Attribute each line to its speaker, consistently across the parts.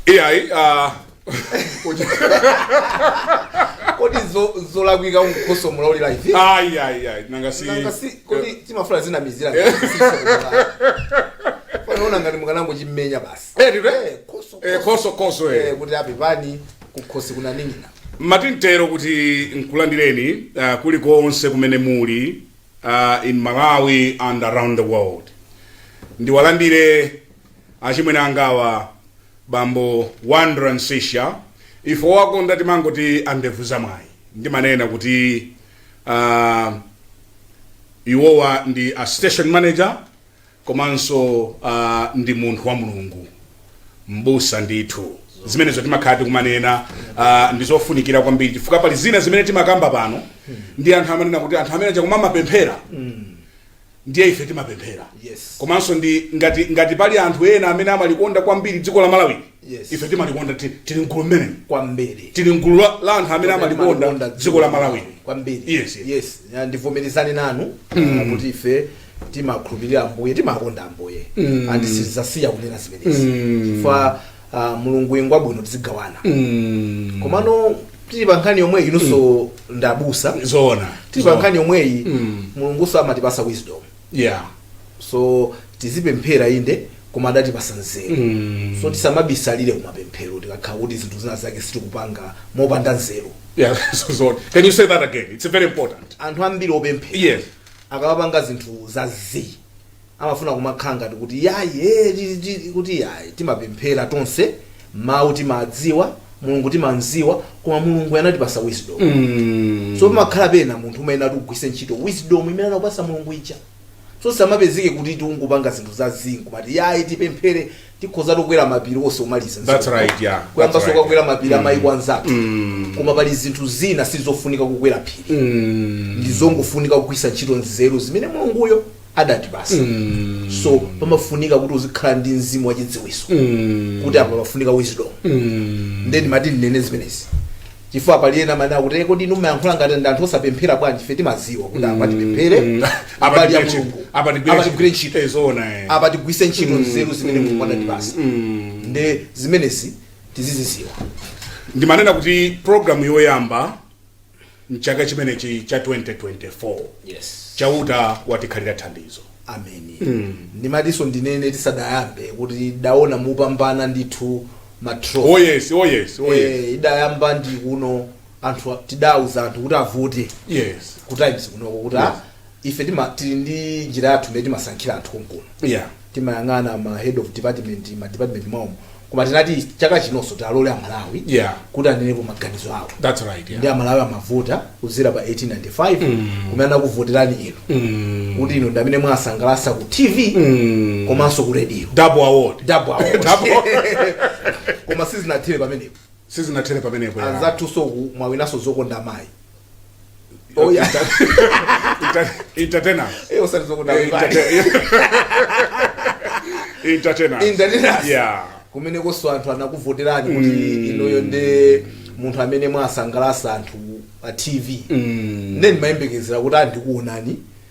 Speaker 1: iyayi ah, kodi zo- zolakwika mkhoso muli live ayi ayi ayi nanga si
Speaker 2: nanga si kodi
Speaker 1: timafuna zinamizira panaona ngati mukanangochimenya basi Eh, ndithu, eh? Eh, khosi, Eh,
Speaker 2: khosi. khosi khosi Eh, eh.
Speaker 1: kuti apepani kukhosi kunaning'ina amati ntero kuti
Speaker 2: nkulandireni ah, kulikonse kumene muli uh, in Malawi and around the world. Ndiwalandire achimwene angawa bambo Wonder Msiska ife owakonda timangoti andevu za mwayi ndimanena kuti uh, iwowa ndi a station manager komanso uh, ndi munthu wa mulungu mbusa ndithu zimenezo timakhala tikumanena uh, ndi zofunikira kwambiri chifukwa pali zina zimene timakamba pano ndi anthu amanena kuti anthu amene achakuti amapemphera ndiye ife timapemphera Yes. komanso ndi
Speaker 1: ngati
Speaker 2: ngati pali anthu ena amene amalikonda kwambiri dziko la malawi Yes. ife
Speaker 1: timalikonda
Speaker 2: ti- tili mgulu limenelo kwambiri tili
Speaker 1: mgulu la
Speaker 2: la anthu amene amalikonda dziko la malawi kwambiri Yes,
Speaker 1: yes. yes Ya,
Speaker 2: ndivomerezane
Speaker 1: nanu ah, kuti ife timakhulupirira ambuye timakonda ambuye and sizasiya kunena zimenezi chifukwa ah, mulungu ngwabwino tizigawana Mm, komano tili pa nkhani yomweyi inunso ndabusa zoona tili pa
Speaker 2: nkhani yomweyi
Speaker 1: mulungunso amatipasa wisdom
Speaker 2: yeah
Speaker 1: so tizipemphera inde koma adatipasa nzeru Mm. so tisamabisalire kumapemphero tikakhala kuti zinthu zina zake sitikupanga mopanda nzeru yeah so
Speaker 2: can you say that again it's very important anthu ambiri
Speaker 1: opemphera yes
Speaker 2: akamapanga
Speaker 1: zinthu za zi amafuna kumakhala ngati kuti yayi eh, ti- ti- kuti yayi timapemphera tonse mawu timadziwa mulungu timamziwa koma mulungu anatipasa wisdom Mm. so pamakhala pena munthu umayenera kuti ugwise ntchito wisdom imene anakupasa mulungu ija so tisamapezeke kuti tiungopanga zinthu za zii kumati yayi tipemphere tikhoza kukwera mapiri onse kumaliza That's right, yeah.
Speaker 2: That's kuyamba right. sokukwera
Speaker 1: mapiri amaiko anzathu Mm. koma pali zinthu zina sizofunika kukwera phiri Mm. ndizongofunika kugwisa ntchito nzeru zimene mulunguyo adatipasa so pamafunika kuti uzikhala ndi mzimu wachidziwiso kuti apa pafunika wisdom nde ndimati ndinene zimenezi chifukwa pali ena amanena kuti "Eh, kodi inu mumayankhula ngati ndi anthu osapemphera bwanji ife timaziwa kuti apa tipemphere abale a mulungu Apa tigwire ntchito eh zoona eh. apa tigwise ntchito nzeru zimene mulungu adatipasa nde zimenezi tiziziziwa ndimanena
Speaker 2: kuti programu yoyamba mchaka chimenechi cha 2024 yes
Speaker 1: chauta
Speaker 2: watikhalira thandizo ameni
Speaker 1: ndimatiso ndinene tisadayambe kuti idaona mwapambana ndithu matro oh yes oh yes oh
Speaker 2: yes Eh,
Speaker 1: idayamba ndi kuno anthu tidauza anthu kuti avote yes ku
Speaker 2: times kunoko
Speaker 1: kuti Yes. a- ife tima tili ndi njira yathu imene timasankhira anthu konkuno Yeah.
Speaker 2: timayang'ana
Speaker 1: ma head of department ma department mwaomo koma tinati chaka chinonso tialole amalawi Yeah. kuti anenepo
Speaker 2: maganizo
Speaker 1: awo That's right. ndi Yeah. amalawi
Speaker 2: amavota
Speaker 1: kudzera pa 1895 kumene anakuvoterani inu Mm. kuti inu ndamene mwawasangalatsa ku tv Mm. komanso ku radio Double award.
Speaker 2: Double award. Double.
Speaker 1: koma sizinathere pamenepo Sizinathere pamenepo. yeah. anzathunso uku mwawinanso zokonda mayi Oh, yeah.
Speaker 2: Inter- entertainer Eh, osati zokuda Eh, mbali.
Speaker 1: entertain- entertainer
Speaker 2: Entertainers. yeah kumenekonso
Speaker 1: anthu anakuvoterani kuti inuyo ndi munthu amene mwasangalatsa anthu pa tv nde timayembekezera kuti atikuonani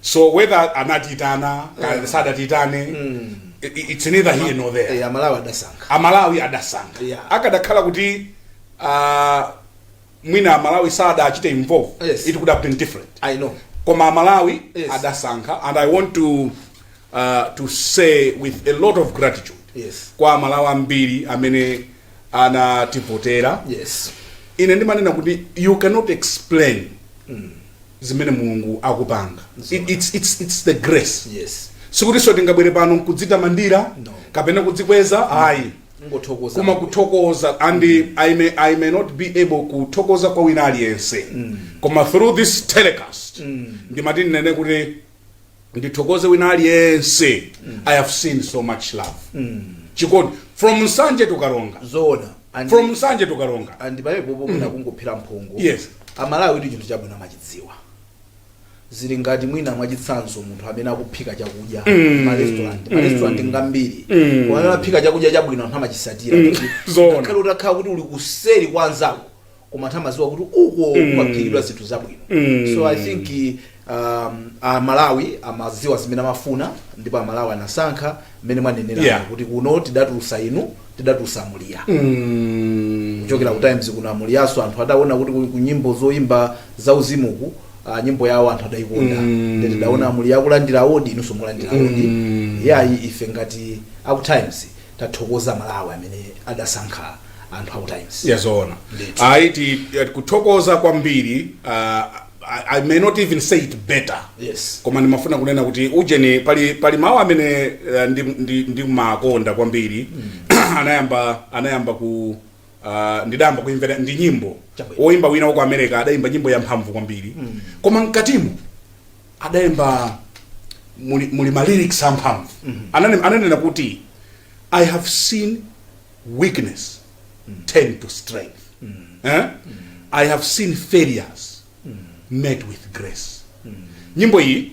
Speaker 1: so
Speaker 2: whether anatiitana Eh. sadatiitane i- i- it's neither here nor there Eh, amalawi adasankha amalawi adasankha Yeah. akadakhala
Speaker 1: kuti
Speaker 2: ah, mwina amalawi sadachite involve Yes. it could have
Speaker 1: been
Speaker 2: different i know
Speaker 1: koma
Speaker 2: amalawi Yes.
Speaker 1: adasankha and i
Speaker 2: want to uh, to say with a lot of gratitude yes kwa amalawi
Speaker 1: ambiri
Speaker 2: amene anativotera yes
Speaker 1: ine ndimanena
Speaker 2: kuti you cannot explain zimene mulungu akupanga It- it's, it's, it's the grace yes sikutinso tingabwere pano nkudzitamandira No. kapena kudzikweza ayi
Speaker 1: ngothokoza koma kuthokoza
Speaker 2: and I, may, i may not be able kuthokoza kwa wina aliyense koma through this telecast ndimati ndinene kuti ndithokoze wina aliyense i have seen so much love chikondi from nsanje to karonga zoona And- from
Speaker 1: nsanje to
Speaker 2: karonga and pamenepo mwina
Speaker 1: kungophera mphongo Yes.
Speaker 2: amalawi chinthu chabwino
Speaker 1: amachidziwa zili ngati mwina mwachitsanzo munthu amene akuphika chakudya marestaurant marestaurant ngambiri amene aphika chakudya chabwino anthu amachisatira Zoona. ngakhale utakhala kuti uli kuseri kwa anzako koma anthu amadziwa kuti uko mm. kumaphikidwa zinthu zabwino mm. so i think um, amalawi amadziwa zimene amafuna ndipo amalawi anasankha mmene mwanenera yeah. kuti kuno tidatulutsa inu tidatulutsa muliya mm. kuchokera ku times kuno amuliyanso anthu adaona kuti ku nyimbo zoyimba za uzimu ku Uh, nyimbo yawo anthu adaikonda mm. nde tidaona amuliya akulandira award inunso mulandira award mm. yayi ife ngati aku times tathokoza amalawi amene adasankha anthu aku times ya zoona Ndithu.
Speaker 2: ayi ti- eh, kuthokoza kwambiri uh, I, i may not even say it better yes koma ndimafuna
Speaker 1: kunena
Speaker 2: kuti ujeni pali pali mawu amene eh, ndi- ndi- ndimakonda kwambiri anayamba anayamba ku Uh, ndidayamba kuimvera ndi nyimbo Chabwino. woimba wina wa ku america adaimba nyimbo yamphamvu kwambiri koma mkatimo adaimba mu, muli ma lyrics amphamvu Anane- ananena kuti i have seen weakness turn to strength eh? i have seen failures met with grace nyimbo iyi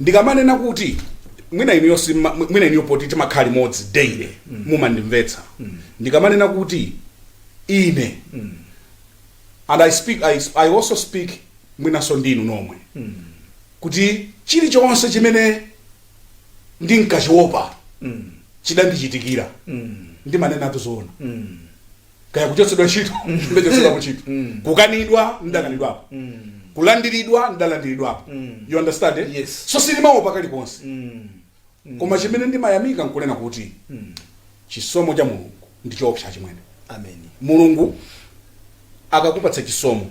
Speaker 1: ndikamanena kuti
Speaker 2: mwina inuyo simma- mwi- mwina inuyo poti timakhala limodzi daily mumandimvetsa ndikamanena kuti ine and I speak I, I also speak mwinanso ndinu nomwe kuti chilichonse chimene ndinkachiopa chidandichitikira ndimanenatu zoona kaya kuchotsedwa ntchito ndachotsedwapo ntchito kukanidwa ndakanidwapo kulandiridwa ndalandiridwapo you understand eh? Yes. so sindimaopa
Speaker 1: kalikonse
Speaker 2: koma chimene ndimayamika nkunena kuti chisomo cha mulungu ndi choopsa chimwene amen mulungu akakupatsa chisomo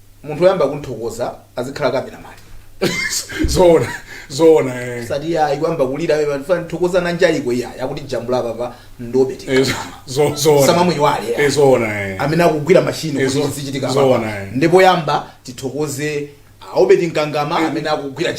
Speaker 1: munthu oyamba kumthokoza azikhala cameraman
Speaker 2: zoona zoona eh. sati ya
Speaker 1: ikuyamba kulira wewe fana thokoza na njaliko iya yakuti jambula papa ndobe Eh, tika zo-
Speaker 2: zo- zoona tisamamuiwale
Speaker 1: Eh, zoona eh.
Speaker 2: amene akugwira
Speaker 1: mashini Eh, kuti zo- zichitika zoona, papa eh. ndipo yamba tithokoze a Obedi Nkangama amene akugwira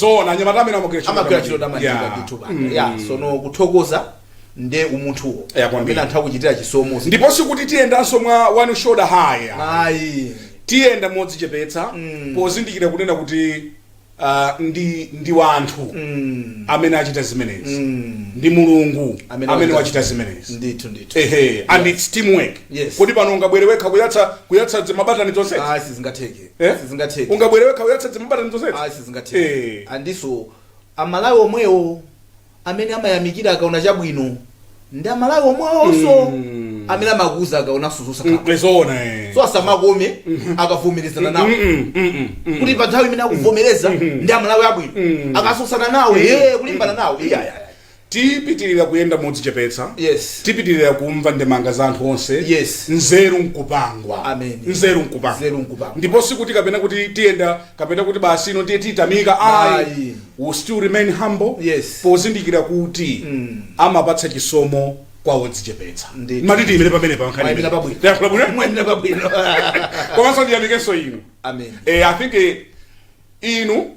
Speaker 2: zoona anyamata amene amagwira ntchito amagwira ntchito
Speaker 1: tamaliza. tamaliza Yeah. ndithu bana Mm. ya sono kuthokoza ndi umunthuwo Yeah, kwambiri. amene anthu akuchitira chisomo ndipo sikuti tiyendanso
Speaker 2: mwa one shoulder high ayi
Speaker 1: tiyenda
Speaker 2: modzichepetsa Mm. pozindikira kunena kuti ah, ndi ndi wanthu Mm. amene achita zimenezi Mm. ndi mulungu Amene amene wachita- wachita zimenezi ndithu ndithu ehe
Speaker 1: and its
Speaker 2: teamwork Yes. kodi pano ungabwere wekha kuyatsa kuyatsa mabatani tonse ayi sizingatheke
Speaker 1: Eh? sizingatheke ungabwere wekha kuyatsa
Speaker 2: zimabatani zonsezi ayi sizingatheke
Speaker 1: Eh. and so amalawi omwewo amene amayamikira akaona chabwino ndi amalawi omwewonso Mm. amene amakuuza akaonanso zosakhala zoona eh.
Speaker 2: so
Speaker 1: asamakome akavomerezana nawe Mm, mm, mm, mm. kuti pa nthawi imene akuvomereza ndi amalawi abwino akatsutsana nawe ee kulimbana nawe iyaya
Speaker 2: Tipitilira kuyenda modzichepetsa. Yes.
Speaker 1: Tipitilira
Speaker 2: kumva ndemanga za anthu onse. Yes.
Speaker 1: Nzeru
Speaker 2: nkupangwa. Amen. Nzeru
Speaker 1: nkupangwa. Nzeru
Speaker 2: nkupangwa. Ndipo sikuti kapena kuti tiyenda kapena kuti basi ino ndiye titamika ayi. Ayi. We still remain humble. Yes.
Speaker 1: Pozindikira
Speaker 2: kuti amapatsa chisomo kwa odzichepetsa. Ndithu. Mati tiyimire pamenepa nkhani. Mwayimira imene. pabwino. Tayankhula
Speaker 1: bwino? Mwayimira pabwino.
Speaker 2: Komanso ndiyamikenso inu. Amen. Eh, I think eh, inu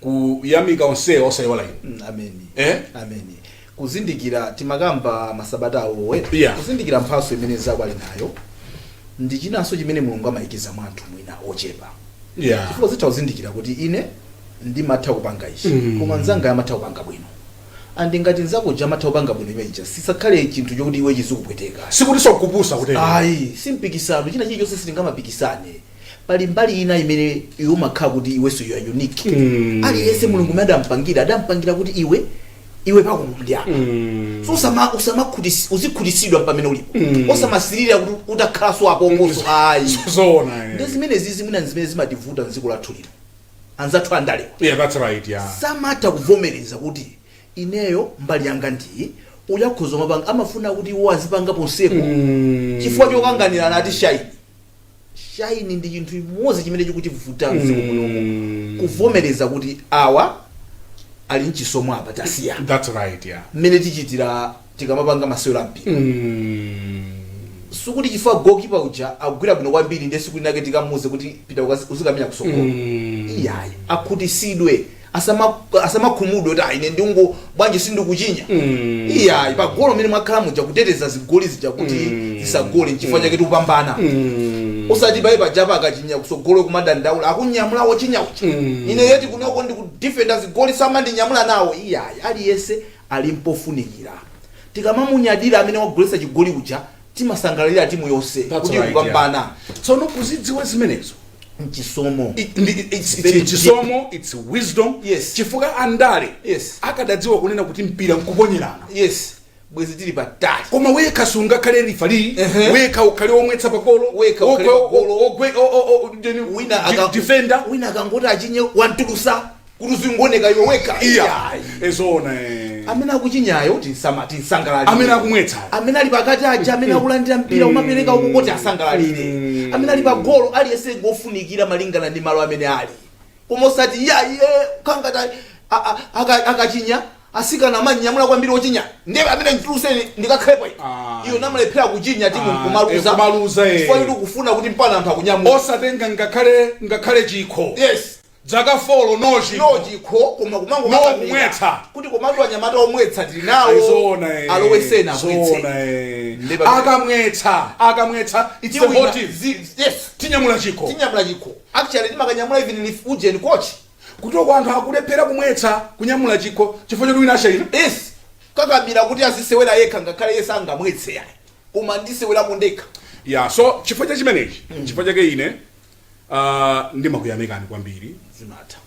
Speaker 2: kuyamika onsewa osaiwala inu Mm, Amen
Speaker 1: Eh? Amen kuzindikira timakamba masabata awowe Yeah. kuzindikira mphatso imene mnzako ali nayo ndi chinanso chimene mulungu amayikiza mwa anthu mwina ochepa yeah. chifukwa zitha kuzindikira kuti ine ndimatha kupanga ichi Mm. koma mnzanga amatha kupanga bwino and ngati mnzako uja amatha kupanga bwino muja sisakhale chinthu chokuti iwe chizikupweteka sikuti zokupusa
Speaker 2: kutero ayi simpikisano
Speaker 1: china chilichonse sitingamapikisane pali mbali ina imene iwe umakhala kuti iwenso you are unique Mm. aliyense mulungu mmene adampangira adampangira kuti iwe iwe pako ndi apa Mm. so usama usamakhutis uzikhutitsidwa pamene ulipo Mm. osamasirira kuti utakhalanso apo ayi zoona ndi eh zimenezi zimene zimene zimativuta m'dziko lathu lino anzathu andalewa yeah that's right
Speaker 2: yeah
Speaker 1: samatha kuvomereza kuti ineyo mbali yanga ndi iyi uyu akhoza kumapanga amafuna kuti iwo azipanga ponsepo Mm. chifukwa chokanganirana ati ashaine shine ndi chinthu chimodzi chimene chikutivuta m'dziko munomu Mm. kuvomereza kuti awa ali mchisomo apa tasiya that's right yeah
Speaker 2: mmene tichitira
Speaker 1: tikamapanga masewero ampira mm. sikuti chifukwa goalkeeper uja akugwira bwino kwambiri ndiye tsiku linake tikamuuze kuti pita ukazi- uzikamenya kutsogolo mm. iyayi akhutitsidwe asama asamakhumudwe kuti ayi ine ndingo bwanji sindikuchinya Mm. iyayi pagolo mmene mwakhala muja kuteteza zigoli zija kuti Mm. zisagole nchifukwa chake tikupambana Mm. osati pali pajapa akachinya kutsogolo kumadandaula akunyamula wochinya uja Mm. ine yeti kunoko ndikudefenda zigoli samandinyamula nawo iyayi aliyense ali ngofunikira tikamamunyadira amene wagoletsa chigoli uja timasangalalira timu yonse That's kuti right, kupambana tsono
Speaker 2: kuzidziwa zimenezo
Speaker 1: nchisomo I- ndi- i- it's- Very it's
Speaker 2: chisomo it's wisdom Yes. chifukwa andale Yes. akadadziwa kunena kuti mpira nkuponyerana yes
Speaker 1: bwezi tili patali koma wekha
Speaker 2: sungakhale referee Ehe. wekha ukhale omwetsa pagolo Wekha Okwe- ukhale pagolo. o- ogwe- o- o- o- ndeni- wina di- aka- defender wina akangoti
Speaker 1: achinye wamtulutsa kuti uzingooneka iwe wekha iyayi e
Speaker 2: zoona e
Speaker 1: amene akuchinyayo timsama timsangalalire Amene
Speaker 2: akumwetsa. amene ali pakati
Speaker 1: aja amene akulandira mpira kumapereka uko timsangalalire amene ali pagolo aliyense ngofunikira malingana ndi malo amene ali koma osati iyayi e kangata a- a- aka- akachinya asikana amamunyamula kwambiri ochinya ndiye ameneyo mtulutseni ndikakhalepo ine. Ah. iyo nkumalephera kuchinya timu Ah, nkumaluza eh, kumaluza, eh. chifukwa kuti kufuna kuti mpaka anthu akunyamula osatenga ngakhale
Speaker 2: ngakhale chikho yes dzaka folo no chikho no
Speaker 1: chikho koma kumangokakamira
Speaker 2: kumwetsa kuti
Speaker 1: komatu anyamata omwetsa tili nawo eh. alowetseni amwetse eh. akamwetsa
Speaker 2: akamwetsa it's a hot yes tinyamula chikho tinyamula chikho actually
Speaker 1: timakamunyamula even if ujeni coach kutereko anthu
Speaker 2: akulephera kumwetsa kunyamula chikho chifukwa choti wina ashaine yes akakamira
Speaker 1: kuti azisewera yekha ngakhale ese angamwetse yayi koma ndisewera mundeka ya so chifukwa
Speaker 2: cha chimenechi mm. chifukwa chake ine Uh, ndimakuyamikani kwambiri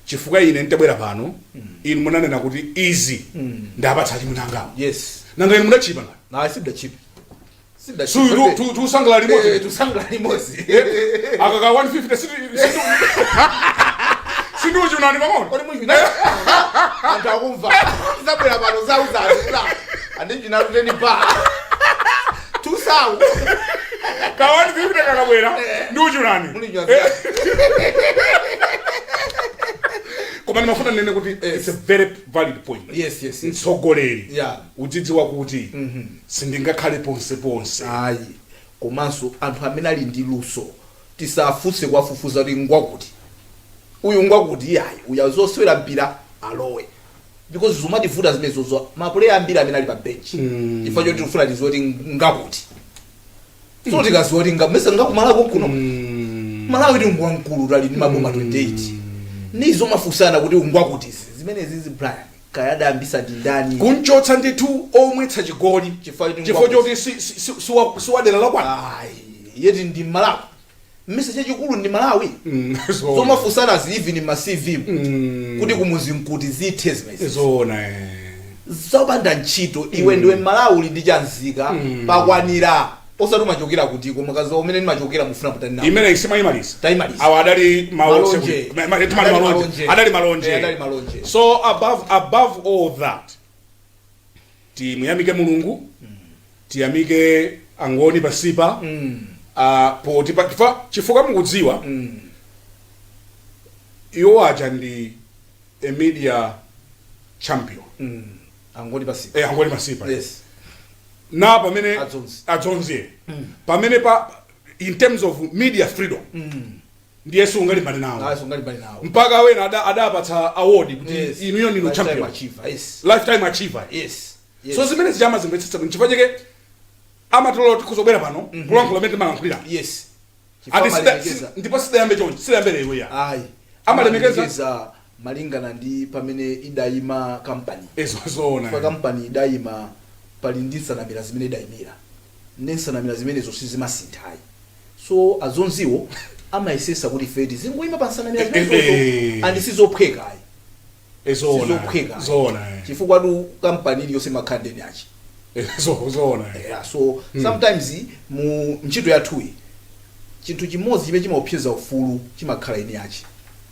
Speaker 2: chifukwa ine nditabwera pano mm. inu munanena kuti izi mm. ndapatsa achimwene angawo yes. nanga inu mudachipa ngani tusangala limodzi eh,
Speaker 1: tusangala limodzi
Speaker 2: akaka 150 sindiuchunani pang'ono kodi
Speaker 1: muchuna anthu akumva zabwera pano zauzazula andichinaluteni pa
Speaker 2: tusawu kawani zipita kakabwera ndi uchulani muli nyazi koma ndimafuna ndinene kuti eh, it's a very valid point yes yes yes mtsogoleri Yeah. udzidziwa kuti sindingakhale ponse ponse
Speaker 1: ayi komanso anthu amene ali ndi luso tisafunse kuwafufuza kuti ngwakuti uyu ngwakuti iyayi uya zosewera mpira alowe because zikumativuta zimenezozo mapuleya ambiri amene ali pa bench Mm. chifukwa choti tikufuna tiziwe kuti ngakuti so tikaziwa kuti nga- mesa ngakumalawi konkuno Mm. malawitu ngwamkulu tili ndi maboma 28 nde zomafunsana kuti uyu ngwakutizi zimenezizi brian kaya adayambisa ndi ndani kunchotsa
Speaker 2: ndithu omwetsa chigoli Chifukwa choti chifukwa ngwakuti. choti si- si- si- siwa- siwadera lakwanu Ayi, yet ndi
Speaker 1: malawi mesa chachikulu ndi malawi Mm, zoona. zomafusanazi even ma cv mu. Mm. kuti kumuzi nkuti zithe zimenezi zoona eh.
Speaker 2: zopanda
Speaker 1: ntchito iwe ndiwe mmalawi uli ndi chanzika Mm. pakwanira osati umachokera kuti koma kazi umene ndimachokera mufuna kutani nawo imene isimayimaliza
Speaker 2: Tayimaliza. awa adali Malonje. Adali malonje malonje. adali Eh, malonje adali malonje. so above above all that timuyamike mulungu tiyamike angoni pasipa poti chifukwa chifukwa mukudziwa iwo aja ndi a media
Speaker 1: champion angoni pasi eh, angoni pasipa yes na
Speaker 2: pamene Adzonzi. adzonzi pamene pa in terms of media freedom ndiye sungalimbane nawo Ah, sungalimbane nawo. mpaka wena ada- adapatsa award kuti Yes. inuyo ndinu Lifetime champion achiever, yes. lifetime achiever Yes. Yes. so zimene zija amazimvetsetsa bwino chifukwa chake amatilola kuti kuzobwera pano kulankhula mmene timalankhulira Yes. Chifukwa
Speaker 1: ati sida- amalemekeza.
Speaker 2: si- ndipo sidayambe chonchi sidayambe lero ayi Ayi. amalemekeza Amalemekeza.
Speaker 1: malingana ndi pamene idaima kampani chifukwa
Speaker 2: kampani idaima
Speaker 1: pali ndi nsanamira zimene idaimira nde nsanamira zimenezo sizimasintha ayi so a Dzonziwo amayesesa kuti ife tizingoima pa nsanamira zimenezozo and sizophweka ayi sizophweka
Speaker 2: ayi chifukwatu
Speaker 1: kampani iliyonse imakhala ndi eni ache eya
Speaker 2: so
Speaker 1: sometimes mu ntchito yathuyi chinthu chimodzi chimene chimaopseza ufulu chimakhala eni ache.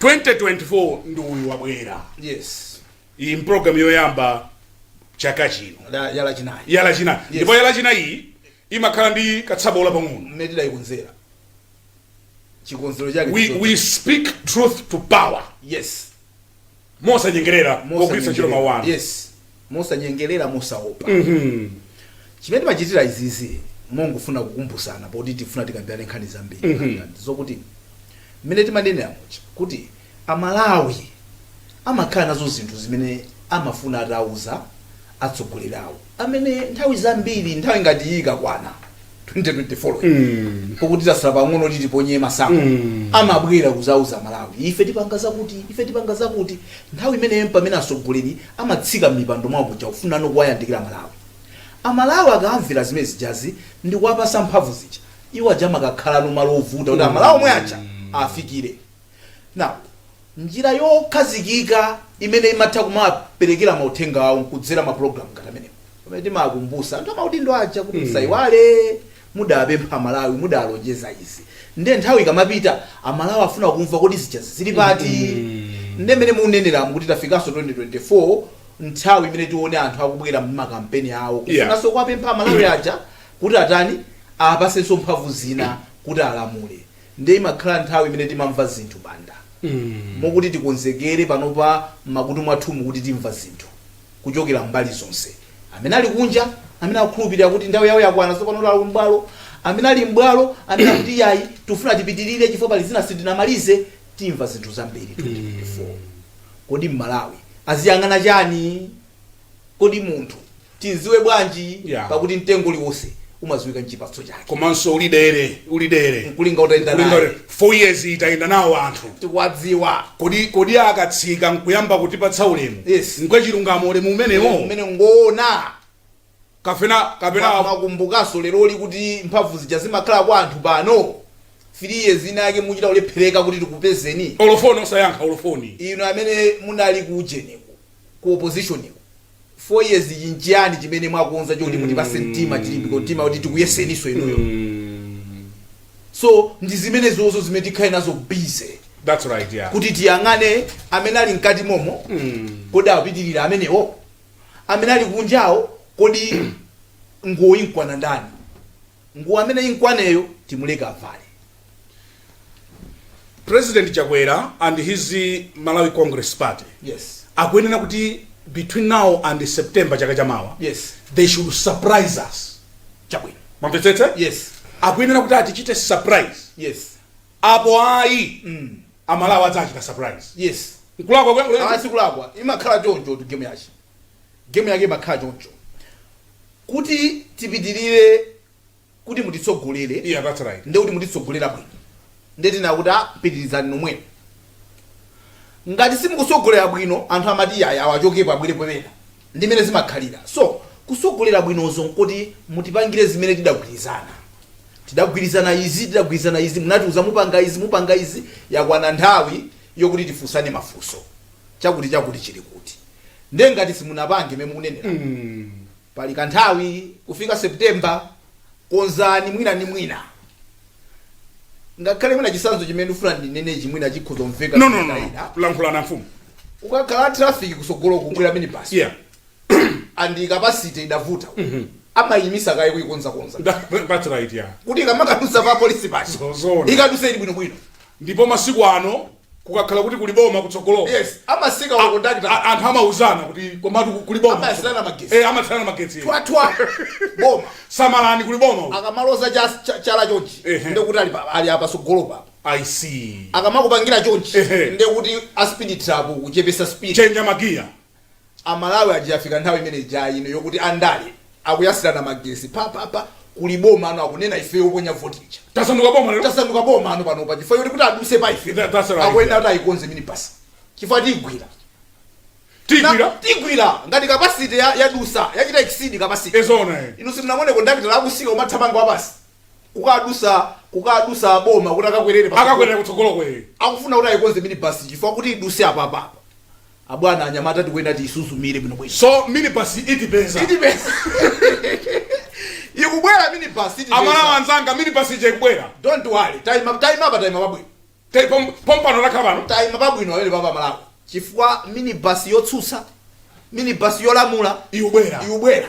Speaker 2: 2024 ndi uyu wabwera yes iyi mpulogalamu yoyamba chaka chino La- ya Lachinayi ya Lachinayi ndipo ya Lachinayi imakhala ndi katsabola pang'ono mmene
Speaker 1: tidayikonzera chikonzero chake we, ndicho- we speak
Speaker 2: truth to power yes mosanyengerera pogwiritsa ntchito mawu anu yes
Speaker 1: mosanyengerera mosaopa Mhm. chimene timachitira izizi mongofuna kukumbutsana poti tifuna tikambirane nkhani zambiri Mhm. mm zokuti mmene timanenera muja kuti Amalawi amakhala nazo zinthu zimene amafuna atauza atsogoleri awo amene nthawi zambiri nthawi ngati iyi ikakwana 2024 pokuti tasala pang'ono kuti tiponye mavoti amabwera kuzauza Amalawi ife tipanga zakuti ife tipanga zakuti nthawi imeneyo mpamene atsogoleri amatsika m'mipando mwawo muja kufunano kuwayandikira Amalawi Amalawi akamvera zimene zijazi ndi kuwapasa mphamvu zija iwo aja amakakhalano malo ovuta kuti Amalawi omwe aja afikire Now, njira yokhazikika imene imatha kumawaperekera mauthenga awo nkudzera ma program ngati amenewa. Pamene timawakumbusa anthu amaudindo aja kuti musaiwale mudawapempha Amalawi, mudawalonjeza izi. Nde nthawi ikamapita, Amalawi afuna kumva kodi zijazi zili pati? Nde mmene mukuneneramu kuti tafikaso 2024 nthawi imene tione anthu akubwera m'makampeni awo Yeah. kufunaso kuwapempha Amalawi aja kuti atani awapasenso mphamvu zina kuti alamule. nde imakhala nthawi imene timamva zinthu Banda mokuti tikonzekere panopa mmakutu mwathumu kuti timva zinthu kuchokera mbali zonse amene ali kunja amene akukhulupirira kuti nthawi yawo yakwana tsopano kuti alowe mbwalo amene ali mbwalo amene akuti yayi tifuna tipitirire chifukwa pali zina sitinamalize timva zinthu zambiri 2024 kodi Mmalawi aziyang'ana chani Kodi munthu timziwe bwanji? Yeah. Pakuti mtengo uliwonse umaziwika nchipatso chake. Komanso uli
Speaker 2: dere, uli dere. Nkulinga utayenda naye.
Speaker 1: Uli dere. Four years
Speaker 2: tayenda nawo anthu. Tikuwadziwa. Kodi,
Speaker 1: kodi
Speaker 2: akatsika nkuyamba kutipatsa ulemu. Yes. Ngwachilungamo ulemu umenewo. Umene
Speaker 1: ngona. Kapena, kapena. Kumakumbukaso leroli
Speaker 2: kuti
Speaker 1: mphamvu zija zimakhala kwa anthu pano. 3 years ina yake mmachita kulephereka kuti tikupezeni olo foni osayankha
Speaker 2: olo foni inu amene
Speaker 1: munali ku ujeniko ku oppositionko 4 years yi nchiyani chimene mwakonza choti mutipase mtima chilimbiko mtima woti tikuyeseniso inuyo so ndi zimenezozo zimene tikhale nazo busy that's right
Speaker 2: yeah kuti
Speaker 1: tiyang'ane amene ali mkati momo kodi apitirira amenewo amene ali kunjawo kodi woyimkwana ndani Nguwo ameneyi imkwaneyo timuleke
Speaker 2: avale. President Chakwera and his Malawi Congress Party Yes. akuyenera
Speaker 1: kuti
Speaker 2: between now and September chaka chamawa Yes. they should
Speaker 1: surprise
Speaker 2: us.
Speaker 1: Chabwino. Mwamvetsetsa?
Speaker 2: Yes.
Speaker 1: Akuyenera kuti
Speaker 2: atichite surprise.
Speaker 1: Yes.
Speaker 2: Apo ayi amalawi adzachita surprise. Yes. Nkulakwa
Speaker 1: kwenkuleni.
Speaker 2: A sikulakwa imakhala
Speaker 1: chonchotu game yake. Game yake imakhala choncho. kuti tipitirire kuti mutitsogolere Yeah, that's right. nde
Speaker 2: kuti mutitsogolera
Speaker 1: bwino nde tinena kuti "Ah, pitirizani nomweno ngati simukusogolera bwino anthu amati iyayi awa achokepo abwere pena ndi mene zimakhalira so kutsogolera bwinoko nkuti mutipangire zimene tidagwirizana tidagwirizana izi tidagwirizana izi munatiuza mupanga izi mupanga izi yakwana nthawi yokuti tifunsane mafunso chakuti chakuti chili kuti nde ngati simunapange mmene mukunenera pali kanthawi kufika September konzani mwina ndi mwina ngakhale mwina chisanzo chimene ndikufuna ndinenechi mwina chikhoza kumveka no no no Koma tikulankhulana
Speaker 2: mfumu
Speaker 1: ukakhala traffic kusogolo ukukwera minibus
Speaker 2: yeah
Speaker 1: and capacity idavuta amayimisa kaye kuyikonzakonza That- that's right
Speaker 2: yeah kuti ikamakadusa pa
Speaker 1: polisi paja Zoona. ikadusa ili bwinobwino ndipo masiku
Speaker 2: ano kukakhala kuti kuli boma kutsogoloko yes amasika
Speaker 1: ma conductor a- anthu amauzana
Speaker 2: kuti komatu kuli boma Amayatsirana magetsi. Eh,
Speaker 1: amayatsirana magetsi thwathwa boma samalani kuli
Speaker 2: boma uku. akamaloza cha-
Speaker 1: cha- chala chonchi Ehe. ndekuti ali pa- ali a patsogolo papa i
Speaker 2: see akamakupangira chonchi
Speaker 1: Ehe. ndekuti a speed trap kuchepesa speed kuchenja magiya Amalawi aja yafika nthawi imene ija ino yokuti andale akuyasirana magesi pa pa pa kuli boma ano akunena ifeyo oponya vote ija Tasanduka boma lero? tasanduka
Speaker 2: boma ano
Speaker 1: panopa chifukwa choti kuti aduse pa ife Tha- that's right. akuyenera kuti
Speaker 2: ayikonze minibus
Speaker 1: chifukwa tigwira Tigwira? Na- tigwira ngati kapasite ya, yadusa yachita exceed kapasite Zoona eh. inu
Speaker 2: simunaone
Speaker 1: kondakita akusika kumathamanga wapasi kukadusa kukadusa boma kuti akakwerere pa- Akakwera kutsogolo uko.
Speaker 2: akufuna kuti ayikonze
Speaker 1: minibus chifukwa kuti iduse apapapa Abwana, anyamata tikuyenera tiyisuzumire bwino bwino. So minibus yi
Speaker 2: itipeza.
Speaker 1: Itipeza. Ikubwera minibus itipeza. Amalawi anzanga minibus
Speaker 2: ija ikubwera. Don't worry.
Speaker 1: Taima taima pa taima pabwino.
Speaker 2: Pom pompano takhala pano. Taima pabwino amene
Speaker 1: papa Malawi. Chifukwa minibus yotsutsa minibus yolamula ikubwera. Ikubwera.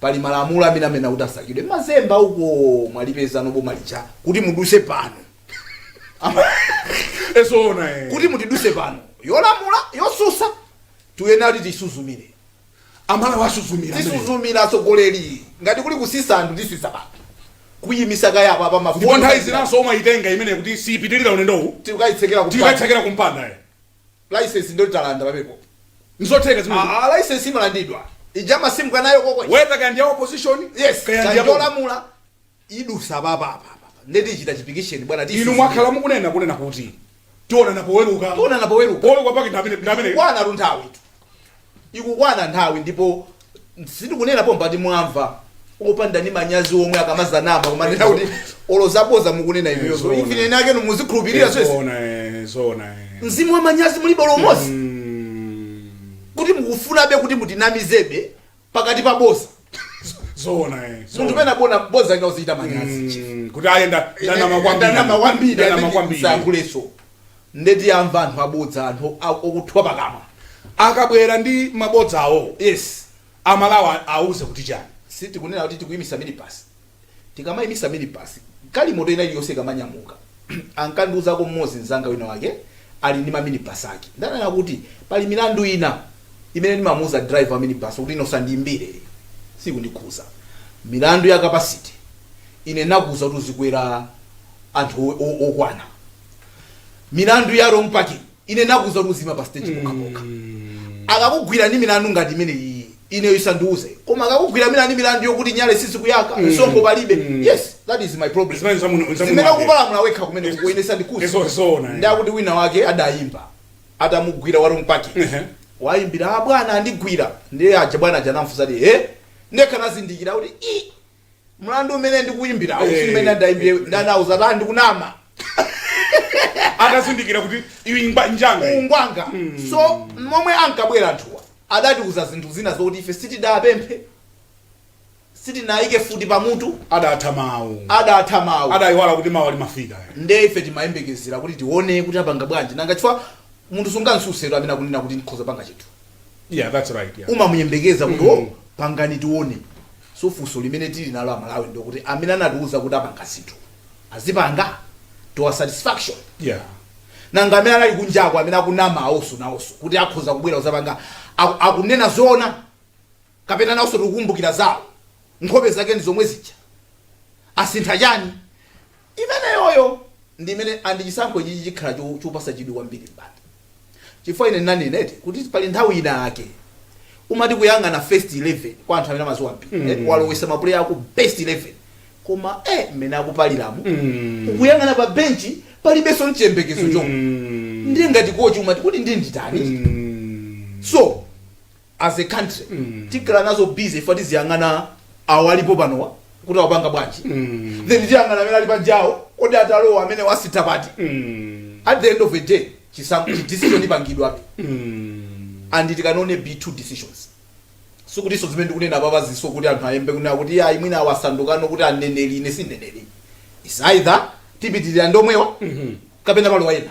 Speaker 1: pali malamulo amene amanena kuti asakidwe mmazemba uko mwalipezano boma lija kuti muduse pano Ama-
Speaker 2: e zoona eh. kuti mutiduse
Speaker 1: pano yolamula yosusa tuyenera kuti tisuzumire
Speaker 2: Amalawi asuzumira tisuzumira
Speaker 1: atsogoleri ngati kuli kusisa anthu tisisa pano kuyimisa kaye apapa ndipo nthawi mafuta zinanso
Speaker 2: umayitenga imeneyo kuti siyipitirira ulendowu tikayitsekera kumpanda tikayitsekera kumpanda eh.
Speaker 1: License ndoti talanda pamenepo. Nzotheka
Speaker 2: zimenezo. Aaa license
Speaker 1: imalandidwa. Ija amasimka nayo koko. Whether kaya ndi ya opposition
Speaker 2: Yes. kaya Kaya ndi ya boma.
Speaker 1: yolamula idusa papa apa apa. Ndiye tichita chipikisheni bwana tichi. Inu mwakhala
Speaker 2: mukunena kunena kuti tionana poweruka. Tionana poweruka. Poweruka pake ndi amene ndi amene. Bwana runthawi.
Speaker 1: ikukwana nthawi ndipo sindikunena pambali mwamva opanda ni manyazi omwe akamazanama kumanena kuti olo zaboza mukunena inuyo so Zoona. ifene anakenu muzikhulupirira so Zoona, eh,
Speaker 2: zoona, eh. mzimu
Speaker 1: wa manyazi mulibe olo mmodzi Mm. kuti mukufunabe kuti mutinamizebe pakati pa boza
Speaker 2: zoona eh munthu
Speaker 1: pena poona boza lina uzichita manyazi chief. Mm, kuti ayi
Speaker 2: ndanama kwambiri ndanama
Speaker 1: kwambiri ndanama amene kwambiri sayankhuleso nde tiyamva anthu abodza anthu a- okuthwa pakamwa
Speaker 2: akabwera ndi mabodza awo yes
Speaker 1: amalawa
Speaker 2: auze kuti chani sitikunena kuti tikuimitsa
Speaker 1: minibus Tikamaimitsa minibus, galimoto ina iliyonse ikamanyamuka, ankandiuzako mmodzi mnzanga wina wake ali ndi ma minibus ake. Ndiye ananena kuti, Pali milandu ina imene ndimamuuza driver wa minibus kuti, Ine usandiyimbire iyi, siyikundikhudza. Milandu ya capacity, ine ndinakuuza kuti uzikweza anthu okwana. Milandu ya wrong parking. ine nakuza kuti uziima pa stage pokha pokha akakugwira ndi milandu ngati imene iyi ine usandiuze koma akakugwira milandu milandu yokuti nyale sizikuyaka msonkho palibe yes that is my problem Zimene zamuno- zamuno zimene wake. kupalamula wekha kumene kuko ine sandikuza Izo- zoona, eh. nde akuti wina wake adayimba atamugwira wa wrong parking Ehe. wayimbira "Ah, bwana andigwira ndiye aja bwana aja anamfunsa ti e ndekha ndazindikira kuti i mlandu umene ndikuimbirawu Eh, si umene ndaimbire eh, ndanauza ati
Speaker 2: ndikunama atazindikira kuti iwi ngwa- njanga iyi. ungwanga so
Speaker 1: momwe ankabwera anthuwa adatiuza zinthu zina zokuti ife sitidapemphe sitinayike futi pamutu adatha
Speaker 2: mawu adatha mawu
Speaker 1: adayiwala kuti mawu
Speaker 2: amafika nde ife timayembekezera
Speaker 1: kuti tione kuti apanga bwanji nanga chifukwa munthu sungamtsutsiretu amene akunena kuti ndikhoza panga chinthu yeah that's
Speaker 2: right yeah umamuyembekeza kuti mm.
Speaker 1: oh, pangani tione so funso limene tili nalo amalawi ndikuti amene anatiuza kuti apanga zinthu azipanga to our satisfaction yeah nanga amene anali kunjako amene akunama awonso nawonso kuti akhoza kubwera kudzapanga aku- akunena zoona kapena nawonso tikukumbukira zawo nkhope zake ndi zomwe zija asintha chani Imeneyoyo ndi imene, and chisankho ichichi chikhala cho, chopatsa chidwi kwambiri Banda chifukwa ine ndinanena eti kuti pali nthawi inayake umati kuyang'ana first 11 kwa anthu amene amadziwa mpira mm. eh, walowetsa mapuleya ako best 11 koma eh, mmene akupaliramu mm. ukuyang'ana pa benchi palibenso nchiyembekezo chomwe mm. ndiye ngati kochi umati kuti ndi nditani mm. so as a country tikhala nazo busy ife tiziyang'ana awo alipo panowa kuti awapanga bwanji then tiyang'ana amene ali panjawo kodi atalowa amene wasintha pati at the end of the day chisankho decision ipangidwabe and it cannot be two decisions sikutinso zimene ndikunena apapazinso kuti anthu ayambe kunena kuti ayi mwina awa asandukano aneneri ine si mneneri it's either tipitirira ndi omwewa kapena palowa ena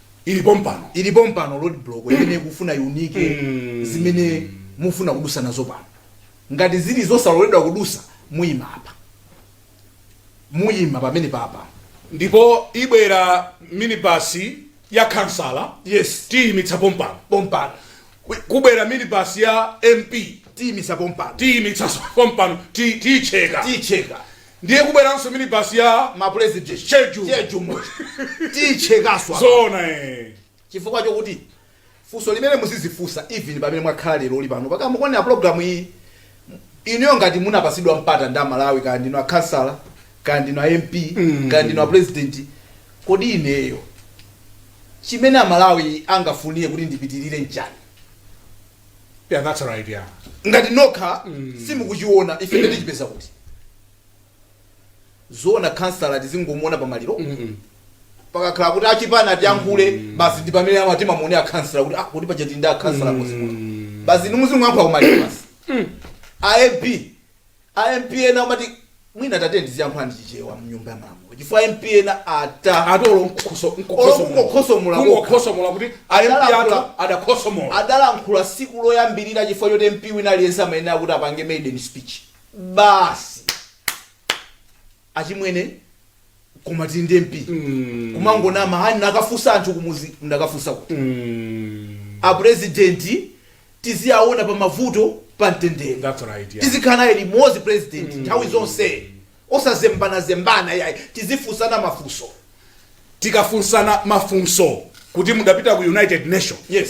Speaker 1: ili pompano ili pompano roadblock imene ikufuna kuunika zimene mufuna kudutsa nazo pano ngati zili zosaloledwa kudutsa muyima apa muyima pomwe pano apa
Speaker 2: ndipo ibwera minibasi ya khansala yes tiyimitsa pompano pompano kubwera minibasi ya mp tiyimitsa pompano tiyimitsa pompano ti- tiyicheka tiyicheka Ndiye kubweranso minibus ya ma president
Speaker 1: schedule schedule muja tiichekanso apa zoona
Speaker 2: eh. chifukwa
Speaker 1: chokuti funso limene muzizifunsa even pamene mwakhala lero uli pano mpaka mukuonera program iyi inuyo ngati munapatsidwa mpata ndi amalawi kaya ndinu akhansala kaya ndinu a mp Mm. kaya ndinu a president kodi ineyo chimene amalawi angafunire kuti ndipitirire nchani
Speaker 2: Yeah, that's right, yeah. ngati
Speaker 1: nokha simukuchiona ife nde tichipeza kuti zoona khansala tizingomuona pamaliro pakakhala kuti achipani atiyankhule basi ndi pamene amati timuone akhansala kuti ah kuti paja tili ndi akhansala muzimuka basi ni muzimuyankhula kumaliro basi a ab a MP ena amati mwina atati aziyankhula ndi chichewa mnyumba ya malamulo chifukwa MP ena ata olo nkukhoso Olo
Speaker 2: kungokhosomola kokha. kungokhosomola kuti ayambi Adala athu akula-
Speaker 1: adakhosomola adalankhula tsiku loyambirira chifukwa choti MP wina aliyense amayenera kuti apange maiden speech basi achimwene koma tili ndi mp kumangonama hani ndakafunsa anthu kumuzi ndakafunsa kuti apurezidenti tiziyaona pa mavuto pa mtendere That's right, yeah. tizikhala naye limodzi purezidenti nthawi zonse osazembanazembana yayi tizifunsana mafunso tikafunsana
Speaker 2: mafunso kuti mudapita ku united nation yes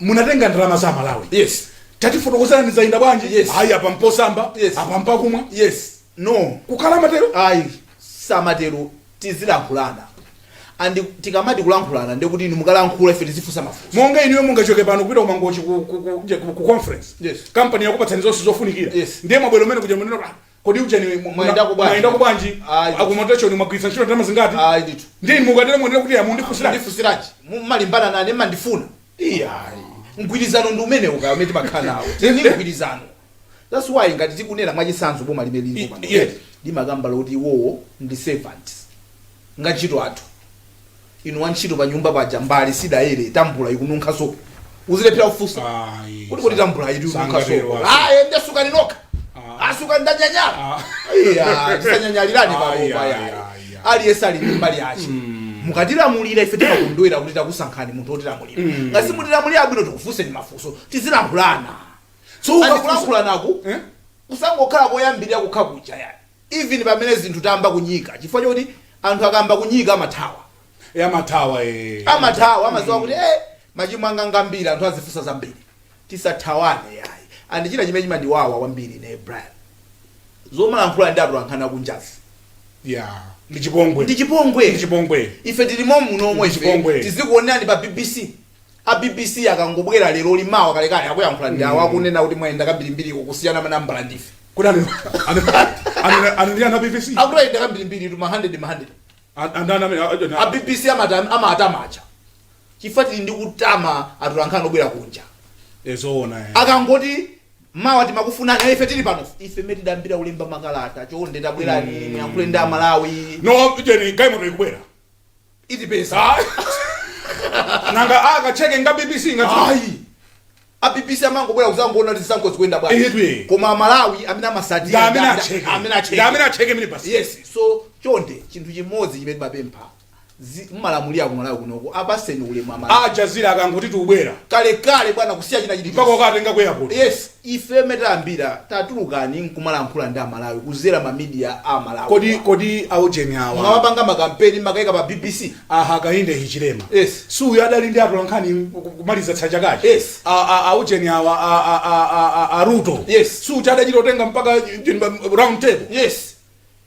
Speaker 2: munatenga ndalama za malawi yes tatifotokozerani zayenda bwanji Yes. ayi apa mposambira Yes. apa mpakamwa yes no
Speaker 1: kukhala matero
Speaker 2: ayi
Speaker 1: samatero tizilankhulana and tikamati kulankhulana ndekuti inu mukalankhula ife tizifunsa mafunso monga inuyo mungachoke
Speaker 2: pano kupita kumangochi ku, ku, ku, nje ku, ku conference Yes. kampani yakupatsani zonse zofunikira Yes. ndiye mwabwerako m'mene kuja munena kuti, "Ah, Kodi ujeni muna- Mwayendako bwanji?
Speaker 1: munayendako
Speaker 2: bwanji Ayi. akumotechoni mwagwiritsa ntchito ndalama zingati ayi ndithu ndiye inu
Speaker 1: mukatero muyenera
Speaker 2: kuti ah mundifunsira ndifunsiranji mumalimbana
Speaker 1: nane mandifuna iyayi mgwirizano ndi umene uja umene timakhala nawo tili ndi mgwirizano that's why ngati tikunena mwachisanzo boma limene lilipo I- pano yes. limakamba zoti iwowo ndi servants ndi antchito athu inu wantchito panyumba paja mbale sidayera tambula ikununkha sopo uzilephera kufunsa Ayi, kuti kodi sa- tambula iti ununkha sangatero sopo wanji. aye ndesukani nokha Ah. asukani ndanyanyala Ah. iya tisanyanyalirani Ayi, palopa ayi, yayi ayi, ayi. aliyense ali ndi mbali yace mukatilamulira ife timakondwera kuti takusankhani munthu wotilamulira ngati simutilamulira abwino tikufunseni mafunso tizilankhulana so ukafunsa- ukakulankhulanaku Eh? kusangokhala koyambirira kokha kuja yani even pamene zinthu zayamba kuipa chifukwa choti anthu akayamba kuipa amathawa Eh, amathawa eh. amathawa amaziwa kuti eh, machimo anga ngambiri anthu azifunsa zambiri tisathawane ayi and china chimene chimandiwawa kwambiri ine brian nzomalankhula ndi atolankhani a kunjazi yeah
Speaker 2: ndi chipongwe ndi chipongwe ndi chipongwe ife tili
Speaker 1: momuno momwe Ndi chipongwe. tizikuonerani pa bbc A bbc akangobwera leroli mawa kalekale akuyankhula ndi awa akunena kuti mwayenda kambirimbiri kusiyana manambala ndife. Kodi anu anu
Speaker 2: anu anu ndi anthu a bbc? Akuti ayenda kambirimbiritu
Speaker 1: ma hundred ma hundred. An- Andani amene a- a- A bbc amata- amatama aja. Chifukwa tili ndi kutama atolankhani obwera kunja. Eh, zoona eh. akangoti mawa timakufunani eh, ife tili pano ife mene tidayambira ulemba makalata chonde tabwerani muyankhule ndi amalawi No, jeni galimoto
Speaker 2: ikubwera. itipeze nanga akacheke nga bbc ngati ayi a bbc
Speaker 1: amangobwera kuzangoona kuti zisankho zikuyenda bwanji Ehe. koma amalawi amene amatsatira ngamene nda- acheke amene acheke
Speaker 2: ngamene acheke mene basi yes so
Speaker 1: chonde chinthu chimodzi chimene timapempha zi- mmalamulira ku malawi kunoko apaseni ulemu amalawi aljazira akangoti tiubwera
Speaker 2: kalekale bwana
Speaker 1: kusiya china mpaka chilichonse ukatenga ku airport
Speaker 2: yes Ife
Speaker 1: mene tayambira titatuluka nkumalankhula ndi amalawi kuzera ma media a amalawi Kodi wa. kodi aujeni
Speaker 2: awa mmapanga ma kampeni
Speaker 1: mmakaika pa bbc a Hakainde Hichilema
Speaker 2: Yes. si uyu
Speaker 1: adali ndi
Speaker 2: atolankhani kumaliza za chakachi Yes. A- a-
Speaker 1: aujeni
Speaker 2: awa a- a- a- a- a- a Ruto Yes. si uja
Speaker 1: adachita utenga mpaka
Speaker 2: eh, round table yes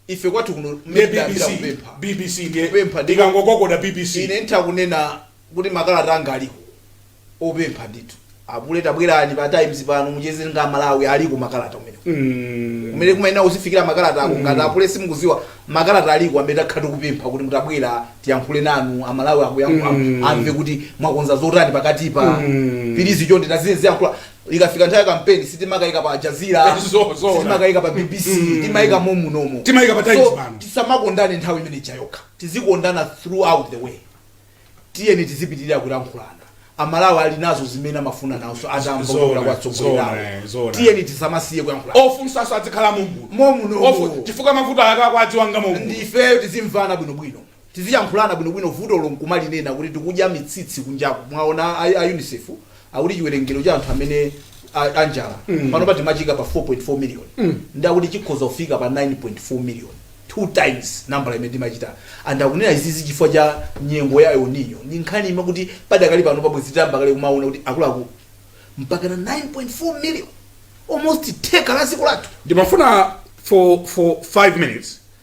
Speaker 1: ife kwathu kuno ndiye mmene tidayambira bbc kupempha
Speaker 2: bbc ndiye Kupempha ndi- ikangogogoda bbc ine nditha
Speaker 1: kunena kuti makalata anga aliko opempha ndithu apule tabwerani pa times pano mucheze nga malawi aliko makalata umene Mm. kumene kumayenera kuzifikira makalata ake ngati apule simukuziwa makalata aliko amene takhala tikupempha kuti mutabwera tiyankhule nanu amalawi akuyankhula Mm. amve kuti mwakonza zotani pakatipa Mm. pilizi chonde taziyankhula ikafika nthawi ya kampeni sitimakaika pa aljazira Eh, zo- zoona. sitimakaika pa bbc timaika momunomo Timaika pa Times so, pano.
Speaker 2: tisamakondane nthawi imene
Speaker 1: ija yokha tizikondana throughout the way tiyeni tizipitirira kulankhulana amalawi ali nazo zimene amafuna nazo Zoona, atambola kwa tsogoleri zoona, lawo eh, zoona. tiyeni tisamasiye kulankhulana ofunsaso adzikhala momuno
Speaker 2: momunomo Ofu-
Speaker 1: chifukwa mavuto amene
Speaker 2: akuwadziwa momuno ndifeyo tizimvana
Speaker 1: bwinobwino Tiziyankhulana bwinobwino vutolo nkumalinena kuti tikudya mitsitsi kunjaku mwaona a, a unicef akuti chiwerengero cha anthu amene a, a njala mm. panopa timachika pa 4.4 million mm. ndi akuti chikhoza kufika pa 9.4 million two times nambala imene timachita and akunena izizi chifukwa cha nyengo ya El Nino ndi nkhani imwe kuti padakali panopa bwezi tayamba kale kumaona kuti akuluakulu mpakana 9.4 million almost theka la dziko lathu ndimafuna
Speaker 2: for for 5 minutes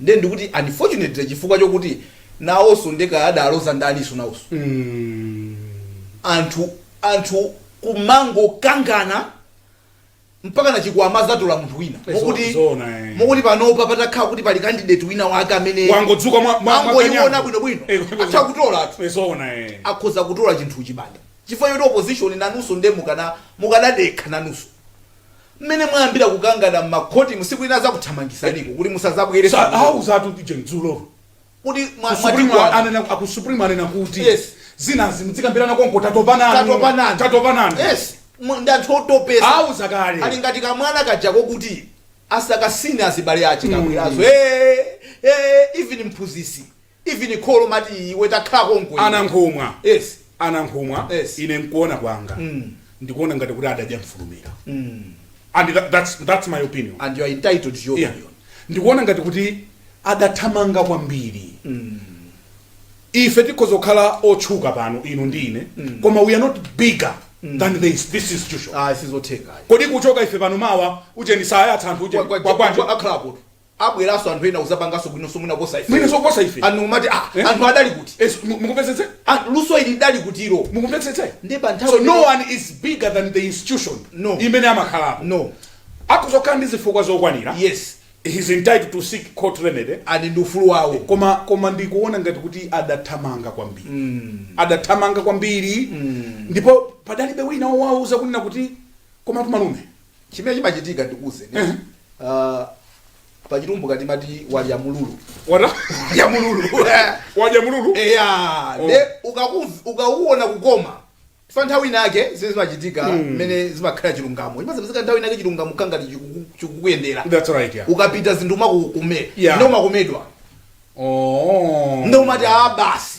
Speaker 1: Nde ndikuti unfortunately chifukwa chokuti nawoso nde kaya adaloza ndaniso nawoso anthu anthu kumangokangana mpakana chikwama azatola munthu wina Zo- mokuti zoona, eh. mokuti panopa patakhala kuti pali candidate wina wake amene wangodzuka mwa- mwa-
Speaker 2: angoiona
Speaker 1: mwakanyango. bwinobwino Eh, kwangozi- atha kutola athu Eh, zoona eh. akhoza kutola chinthu chibanda chifukwa choti opposition nanuso nde mukana mukadadekha nanuso Mmene mwayambira kukangana mmakhotimu siku lina azakuthamangisaniko kuti musazabwere Sa- sukulu. auzatu pije
Speaker 2: dzulo Kuti mwa-
Speaker 1: Ku Supreme mwatikwana. anena-
Speaker 2: aku Supreme anena kuti Yes. zinazi mudzikambirana konko tatopa nanu Tatopa nanu. tatopa nanu Yes.
Speaker 1: Mwa- Ndi anthu otopesa. auza kale ali
Speaker 2: ngati kamwana
Speaker 1: kajako kuti asakasine azibale ache kabwerazo Eh, eh, even mphunzisi Even kholo mati iwe takhala konko iwe. Anankhumwa,
Speaker 2: Yes.
Speaker 1: Anankhumwa Yes.
Speaker 2: ine nkuona kwanga Mm. ndikuona ngati kuti adadya mfulumira Mm. and tha- that's, that's my opinion And you are entitled to your
Speaker 1: yeah. opinion. ndikuona ngati
Speaker 2: kuti adathamanga kwambiri Mm. ife tikhoza kukhala otchuka pano inu ndi ine mm. koma we are not bigger mm. than this, this institution Ah, sizotheka. kodi
Speaker 1: kuchoka ife pano
Speaker 2: mawa ujeni sayatsa anthu Kwa- kwa- kwa- kwa- kwa- akhalapo.
Speaker 1: abweraso anthu ena kuzapangaso bwinoso mwina kuposa ife mwinaso kuposa ife anthu
Speaker 2: amati ah Eh?
Speaker 1: anthu adali kuti Yes, mu- mukumvetsetse
Speaker 2: Ah, luso ili
Speaker 1: lidali kutiro mukumvetsetse ndi pa
Speaker 2: nthawi so no
Speaker 1: one is
Speaker 2: bigger than the institution No. imene amakhala
Speaker 1: no akhoza kukhala ndi
Speaker 2: zifukwa zokwanira yes
Speaker 1: he's entitled
Speaker 2: to seek court remedy ali ndi ufulu
Speaker 1: wawo koma koma
Speaker 2: ndikuona ngati kuti adathamanga kwambiri adathamanga kwambiri ndipo padalibe wina wowauza kunena kuti komatu malume chimene
Speaker 1: chimachitika ndikuwuzeni uh, pachitumbuka timati wadya mululu wada wadya
Speaker 2: mululu
Speaker 1: wadya mululu
Speaker 2: eya oh. nde
Speaker 1: ukaona kukoma fa nthawi inake zimene zimachitika hmm. mmene mm. zimakhala chilungamo chimazapezeka nthawi inake chilungamo kangati chikukuyendera right, yeah.
Speaker 2: ukapita zinthu zimakukomera
Speaker 1: yeah. nde umakomedwa oh. nde umati a ah, basi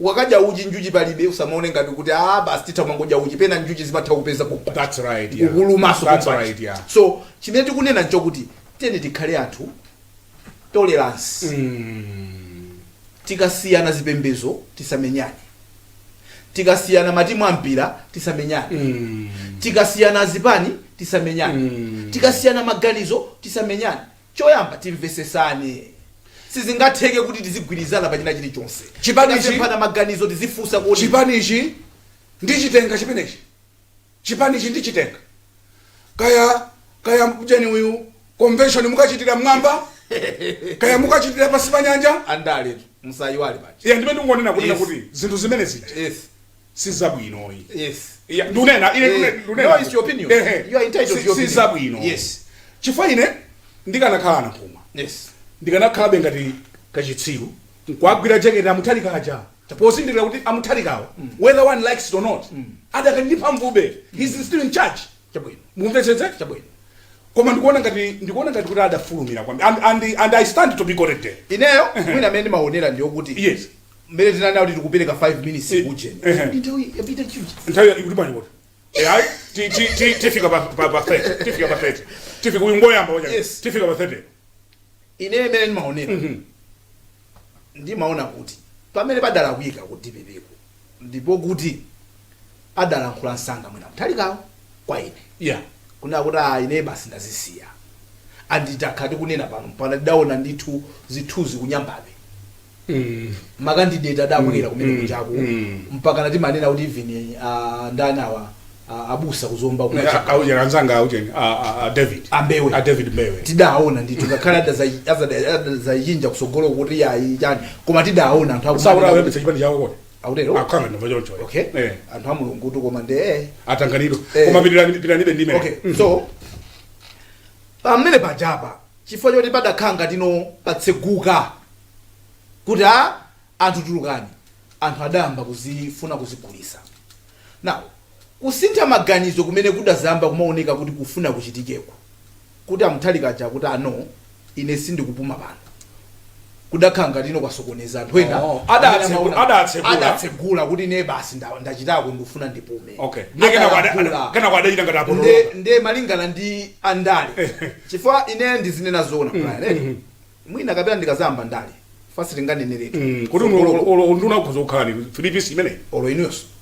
Speaker 1: ukakadya uchi njuchi palibe usamaone ngati kuti ah basi titha kumangodya uchi pena njuchi zimatha kupeza ku- That's right, yeah. kukulumaso
Speaker 2: That's kumbali. right,
Speaker 1: yeah. so
Speaker 2: chimene tikunena
Speaker 1: nchokuti tiyeni tikhale anthu tolerance tikasiyana zipembezo tisamenyane tikasiyana matimu a mpira tisamenyane tikasiyana zipani tisamenyane tikasiyana maganizo tisamenyane Choyamba, timvesesane. Sizingatheke kuti tizigwirizana pa china chili chonse. Chipani ichi.
Speaker 2: Tikasemphana
Speaker 1: maganizo tizifunsa kuti. Chipani ichi
Speaker 2: ndichitenga chimenechi? Chipani ichi ndichitenga? Kaya kaya ujeni uyu convention mukachitira mmwamba kaya mukachitira pansi pa nyanja. Andaletu
Speaker 1: musayiwale paja. Ine ndimene ndikungonena kunena kuti
Speaker 2: zinthu zimene zija. sizabwinoyi yes Ya,
Speaker 1: ndunena ine
Speaker 2: Eh, ndune- ndunena. no, it's
Speaker 1: your opinion. Ehe. You are entitled to Si- your opinion. sizabwino
Speaker 2: Yes.
Speaker 1: chifukwa
Speaker 2: ine ndikanakhala anamphuma yes
Speaker 1: ndikanakhalabe ngati
Speaker 2: kachitsiru nkuwagwira jeketi amuthalika aja pozindikira kuti amuthalikawo whether one likes it or not adakandipa mvube he's still in charge chabwino
Speaker 1: mumvetsetse chabwino koma ndikuona
Speaker 2: ngati ndikuona ngati kuti adafulumira kwambiri and, and, and i stand to be corrected ineyo mwina amene
Speaker 1: ndimaonera ndiyokuti yes
Speaker 2: Mmene tinanena
Speaker 1: kuti tikupereka 5 minutes Eh, ujeni. ehe. Ndi nthawi yapita chichi. nthawi ikuti bwanji
Speaker 2: kuti Eh, ayi ti- ti- ti- tifika pa pa- pa 30 tifika pa 30 tifika uyu ngoyamba wacha Yes. tifika pa 30 Ine mmene
Speaker 1: ndimaonera. Ndimaona kuti pamene padalakwika ku DPP ko ndipo kuti adalankhula msanga mwina a Mutharikawo kwa ine. yeah Kunena
Speaker 2: kuti ah,
Speaker 1: ine basi ndazisiya. And that time tikunena pano mpaka ndidaona ndithu zithuzi ku Nyambadwe. makandideti adabwera kumene kujaku mpakana timanena kuti even ah, ndani awa ah, abusa kuzomba kumene aujeni anzanga
Speaker 2: aujeni David Mbewe. a david mbewe tidaona ndithu
Speaker 1: ngakhale adadzasintha kusogolo kuti ayi chani koma tidaona anthu akumanena saura kuti- webetsa chipani
Speaker 2: chawo kodi akutero akhanga
Speaker 1: ndimva choncho
Speaker 2: okay Eh, anthu
Speaker 1: a Mulungutu koma ndi eh atanganidwa Eh. koma
Speaker 2: pitirani- pitiranibe ndime okay so
Speaker 1: pamene pajapa chifukwa choti padakhala ngatino patseguka kuti a anthu tulukani anthu adayamba kuzifuna kuzigulisa now kusintha maganizo kumene kudadzayamba kumaoneka kuti kufuna kuchitikeko kuti a Mutharika aja akuti a no ine sindikupuma pano kudakhala ngatino kwasokoneza anthu ena Oh, amene adatse- amaona- adatsegula. adatsegula kuti ine basi nda- ndachitako ndikufuna ndipume Okay. Ndiye kenako ada-
Speaker 2: Adayankhula. ada- kenako adachita ngati apotoloka. Nde- nde malingana ndi
Speaker 1: andale chifukwa ine ndizinena zoona Brian, eh? mwina kapena ndikadzayamba ndale first ndinganeneretu kuti unduna
Speaker 2: ukhoza kukhala ni filipisi imeneyi olo inuyonso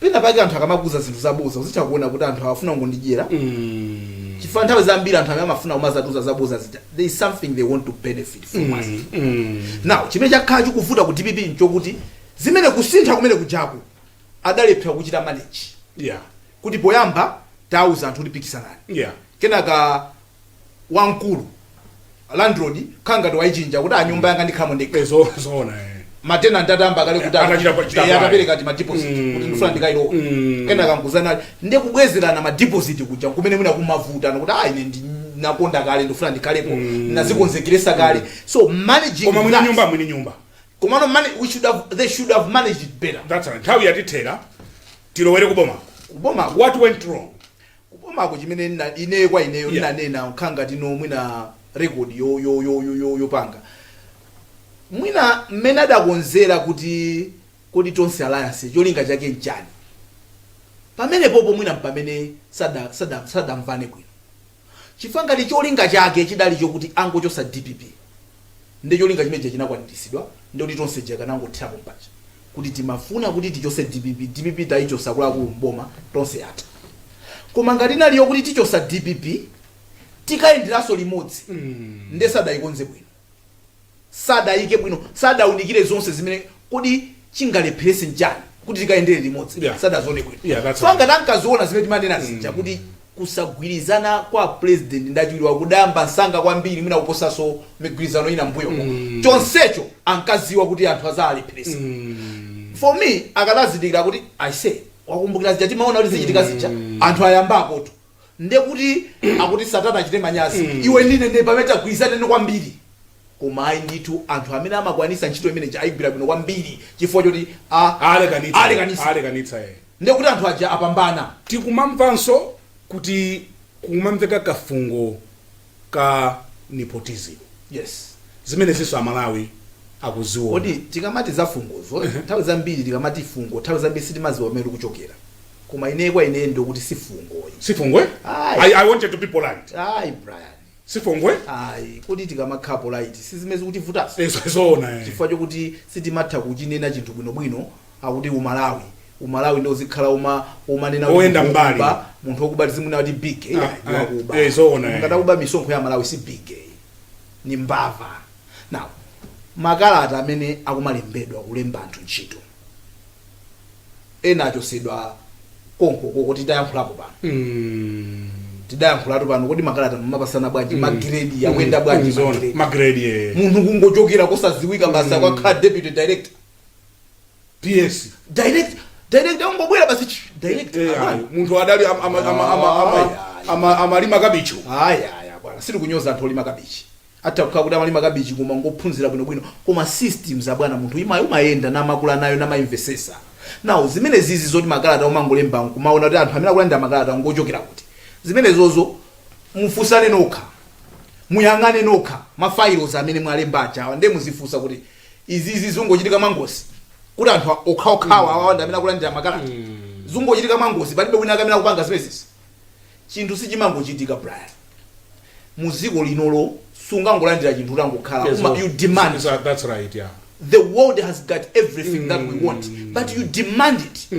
Speaker 1: pena pake anthu akamakuuza zinthu zaboza uzitha kuona kuti anthu awa afuna kungondidyera Mm. chifukwa nthawi zambiri anthu amene amafuna kumadzatiuza zaboza zija there is something they want to benefit from us Mm. now chimene chakhala chikuvuta ku dpp nchokuti zimene kusintha kumene kujaku adalephera kuchita manage Yeah. kuti poyamba tauza anthu kuti pikisanani Yeah. kenaka wamkulu landlord akhala ngati waichinja kuti ah nyumba yanga ndikhalamo ndekha Eh, zo- zoona
Speaker 2: eh.
Speaker 1: matenanti atayamba kale kuti Atachita pa- chita eh, pale. atapereka timadiposit Mm. kuti ndifuna ndikayilowe Mm. kenaka nkuuzana ndi kubwezerana madiposit kuja kumene mwina kumavutana kuti ah ine ndi- nakonda kale ndifuna ndikhalepo ndazikonzekeretsa kale so managing koma mwini that- nyumba mwini
Speaker 2: nyumba komano mani- we
Speaker 1: should have, they should have managed it better that's right nthawi yatithera
Speaker 2: tilowere kuboma kuboma what went wrong kubomako
Speaker 1: chimene nna ineyo kwa ineyo yeah. nnanena nkhanga tinu mwina record yo yo yo yo yo yopanga mwina mmene adakonzera kuti kodi tonse alliance cholinga chake nchani pamenepopo mwina mpamene sada sada sadamvane bwino chifukwa ngati cholinga chake chidali chokuti angochotsa dpp nde cholinga chimene chija chinakwaniritsidwa nde kuti tonse tija akanangothera pompaja kuti timafuna kuti tichotse dpp dpp taichotsa akuluakulu m'boma tonse yatha koma ngati inali yokuti tichotsa dpp tikayenderenso limodzi nde sadaikonze bwino sadayike bwino sadaunikire zonse zimene Kodi chingalepheretse nchani kuti tikayendere limodzi? Yeah. Sadazione bwino. Yeah, that's Chifukwa right. ngati tinkaziona zimene timanena zija kuti kusagwirizana kwa pulezidenti ndi achiwiri awo kudayamba msanga kwambiri mwina kuposanso migwirizano ina m'mbuyomo. Chonsecho ankadziwa kuti anthu adzawalepheretsa. For me, akadazindikira kuti aise wakumbukira zija timaona kuti zichitika zija anthu ayambakotu. ndekuti akuti satana achite manyazi mm. iwe ndi ine nde pamene tigwirizane kwambiri koma ayi ndithu anthu amene amakwanisa ntchito imeneyi ayigwira bwino kwambiri chifukwa choti
Speaker 2: alekanitsa eh. ndekuti anthu
Speaker 1: aja apambana tikumamvanso
Speaker 2: kuti kumamveka kafungo ka nepotism
Speaker 1: yes
Speaker 2: zimenezinso amalawi akuziona kodi tikamati
Speaker 1: za fungozo nthawi zambiri tikamati fungo nthawi zambiri sitimadziwa kumene likuchokera koma ine kwa ine ndikuti si fungo ayi si
Speaker 2: fungo Ayi. I, i wanted to be polite ayi
Speaker 1: brian si
Speaker 2: fungo ayi
Speaker 1: kodi tikamakhala polite sizimene zikutivutanso Ezo- zoona eh. chifukwa
Speaker 2: chokuti
Speaker 1: sitimatha kuchinena chinthu bwinobwino akuti umalawi umalawi nde uzikhala uma umanena kuti Oyenda munthu mbali.
Speaker 2: wokuba, munthu wokuba
Speaker 1: tizimunena kuti big eh, Ah, ndi ah, wakuba eh,
Speaker 2: zoona, eh. ngati akuba misonkho ya
Speaker 1: aMalawi si big eh, ni mbava now makalata amene akumalembedwa kulemba anthu ntchito ena achotsedwa konkokoko tidayankhulapo pano Mm. tidayankhulatu pano kodi makalata mumapatsana bwanji magiredi akuyenda bwanji Zoona. magiredi? Magrade, eh.
Speaker 2: munthu kungochokera
Speaker 1: kosadziwika basa wakhala deputy director
Speaker 2: ps
Speaker 1: direct direct ungobwera basi ch- direct Eh, abwana. ayi, munthu
Speaker 2: adali am- ama- ama- ama- ama- Ayi, ayi. ama- amalima kabichi ayi ayi abwana
Speaker 1: sitikunyoza anthu olima kabichi atha kukhala kuti amalima kabichi koma ngophunzira bwinobwino koma systems abwana munthu ima umayenda namakula nayo namaimvesesa nawo zimene zizi zoti makalata umangolemba nkumaona kuti anthu amene akulandira makalata ngochokera kuti zimenezozo mufunsane nokha muyang'ane nokha mafiles amene mwalemba achawa ndiye muzifunsa kuti izizi zungochitika mwangozi kuti anthu okhaokhawa awawa ndi amene akulandira makalata zungochitika mwangozi palibe wina wake amene akupanga zimenezi chinthu sichimangochitika brian mu dziko linolo sungangolandira chinthu utangokhala Yes, Uma- well, you demand yes, that- that's right
Speaker 2: yeah the
Speaker 1: world has got everything that we want but you demand it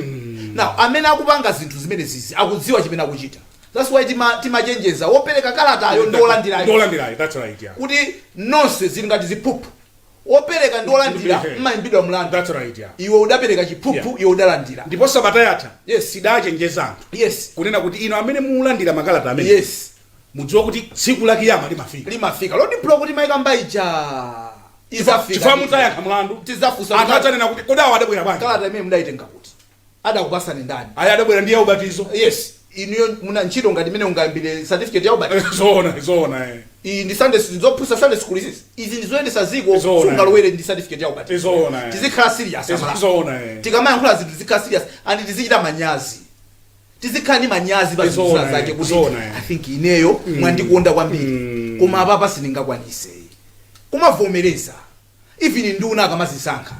Speaker 1: now amene akupanga zinthu zimene zizi akudziwa chimene akuchita that's why tima- timachenjeza wopereka kalatayo ndi wolandirayo Ndolandirayo,
Speaker 2: that's right yeah kuti nonse
Speaker 1: zili ngati ziphuphu Wopereka ndi wolandira Ehe. mumaimbidwa mlandu. That's right, yeah.
Speaker 2: Iwe
Speaker 1: udapereka chiphuphu, Yeah. iwe udalandira. ndipo sabata yatha
Speaker 2: Yes. tidachenjeza anthu Yes. kunena kuti inu amene mulandira makalata amene Yes. mudziwa kuti tsiku la kiyama limafika Limafika. La road block
Speaker 1: timayikamba ija. chifukwa Izafika. mudzayankha
Speaker 2: mlandu Tizafunsa anthu kuti adzanene
Speaker 1: kuti kodi awa
Speaker 2: adabwera bwanji kalata imene mudayitenga kuti.
Speaker 1: Adakupasani ndani? Ayi adabwera ndi ya
Speaker 2: ubatizo. Yes.
Speaker 1: Inuyo muna ntchito ngati imene ungayambire certificate ya ubatizo? Zoona, zoona ee.
Speaker 2: Iyi ndi Sunday
Speaker 1: school, ndizophunzitsa Sunday school izizi? Izi ndizoyendesa ziko, Zoona. sungalowere ndi certificate ya ubatizo. Zoona ee. Tizikhala serious a Malawi. Zoona ee. Tikamayankhula zinthu tizikhala serious and tizichita manyazi. Tizikhala ndi manyazi pa zinthu Zoona, zake kuti zoona. I think ineyo mwandikonda kwambiri. Koma apapa sindingakwanise. Kumavomereza. even nduna akamazisankha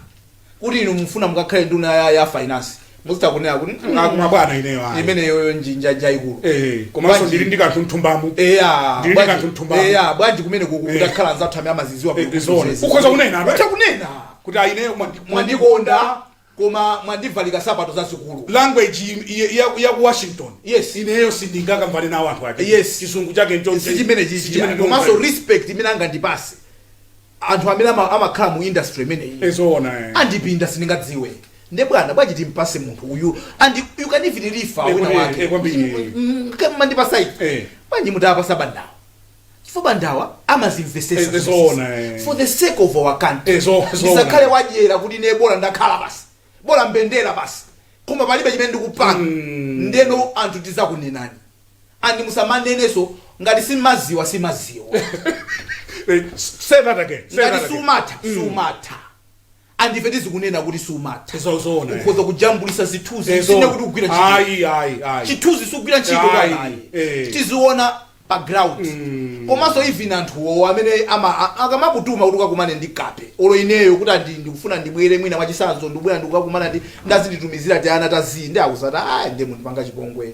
Speaker 1: kuti inu mufuna mukakhale nduna ya, ya finance muzitha kunena kuti "Mm, Ah, koma bwana ineyo ayi.
Speaker 2: imeneyoyo njinja
Speaker 1: jaikulu Eh, komanso Bwanji- ndili
Speaker 2: ndi kanthu nthumbamu eya Ndili bwanji- kanthu nthumbamu. eya
Speaker 1: bwanji kumene kuku Eh. kutakhala anzathu amene amaziziwa Eh, bwino zone. zizizi. Ukhoza kunena,
Speaker 2: right? Ukhoza kunena kuti a ineyo mwandikonda
Speaker 1: koma mwandivalika sapato zazikulu
Speaker 2: language yaku washington yes ineyo sindingakamvane nawo anthu ake yes chizungu chake nchosi chimene chichimene komanso
Speaker 1: respect imene angandipase anthu amene ama- amakhala mu industry imeneyi ee zoona eh. andipinda sindingadziwe nde bwana bwanji timpase munthu uyu and you can even refer Eh, wina kwambiri, eh, wake kwambiri. Mm, koma mwandipasa ichi
Speaker 2: Eh. bwanji
Speaker 1: mutapasa a Bandawo chifukwa bandawa amazimvesesa Eh, zomwe zizi. zoona, eh.
Speaker 2: for the sake of
Speaker 1: our country Eh, zo- zoona. ndisakhale
Speaker 2: wadyera
Speaker 1: kuti ne bola ndakhala basi bola mbendera basi koma palibe chimene ndikupanga ndeno anthu tizakunenani andi musamanenenso ngati sumaziwa sumaziwa
Speaker 2: Eh, say that again say that ngati again sumatha
Speaker 1: sumatha and ife tizikunena kuti sumatha Zo- zoona, eh.
Speaker 2: ukhoza
Speaker 1: kujambulisa zithunzi Eh, si ine zo- kuti kugwira ntchito ayi ayi ayi chithunzi sichigwira ntchito Ayi, bwana ayi. eh. tiziona pa ground komanso even anthuwo amene ama- a- akamakutuma kuti ukakumane ndi kape olo ineyo kuti andi ndikufuna ndibwere mwina mwachisanzo ndikubwera ndikukakumana ndi ndadzinditumizira tiana tazii ndi akudzati ayi ndiye mundipanga chipongwe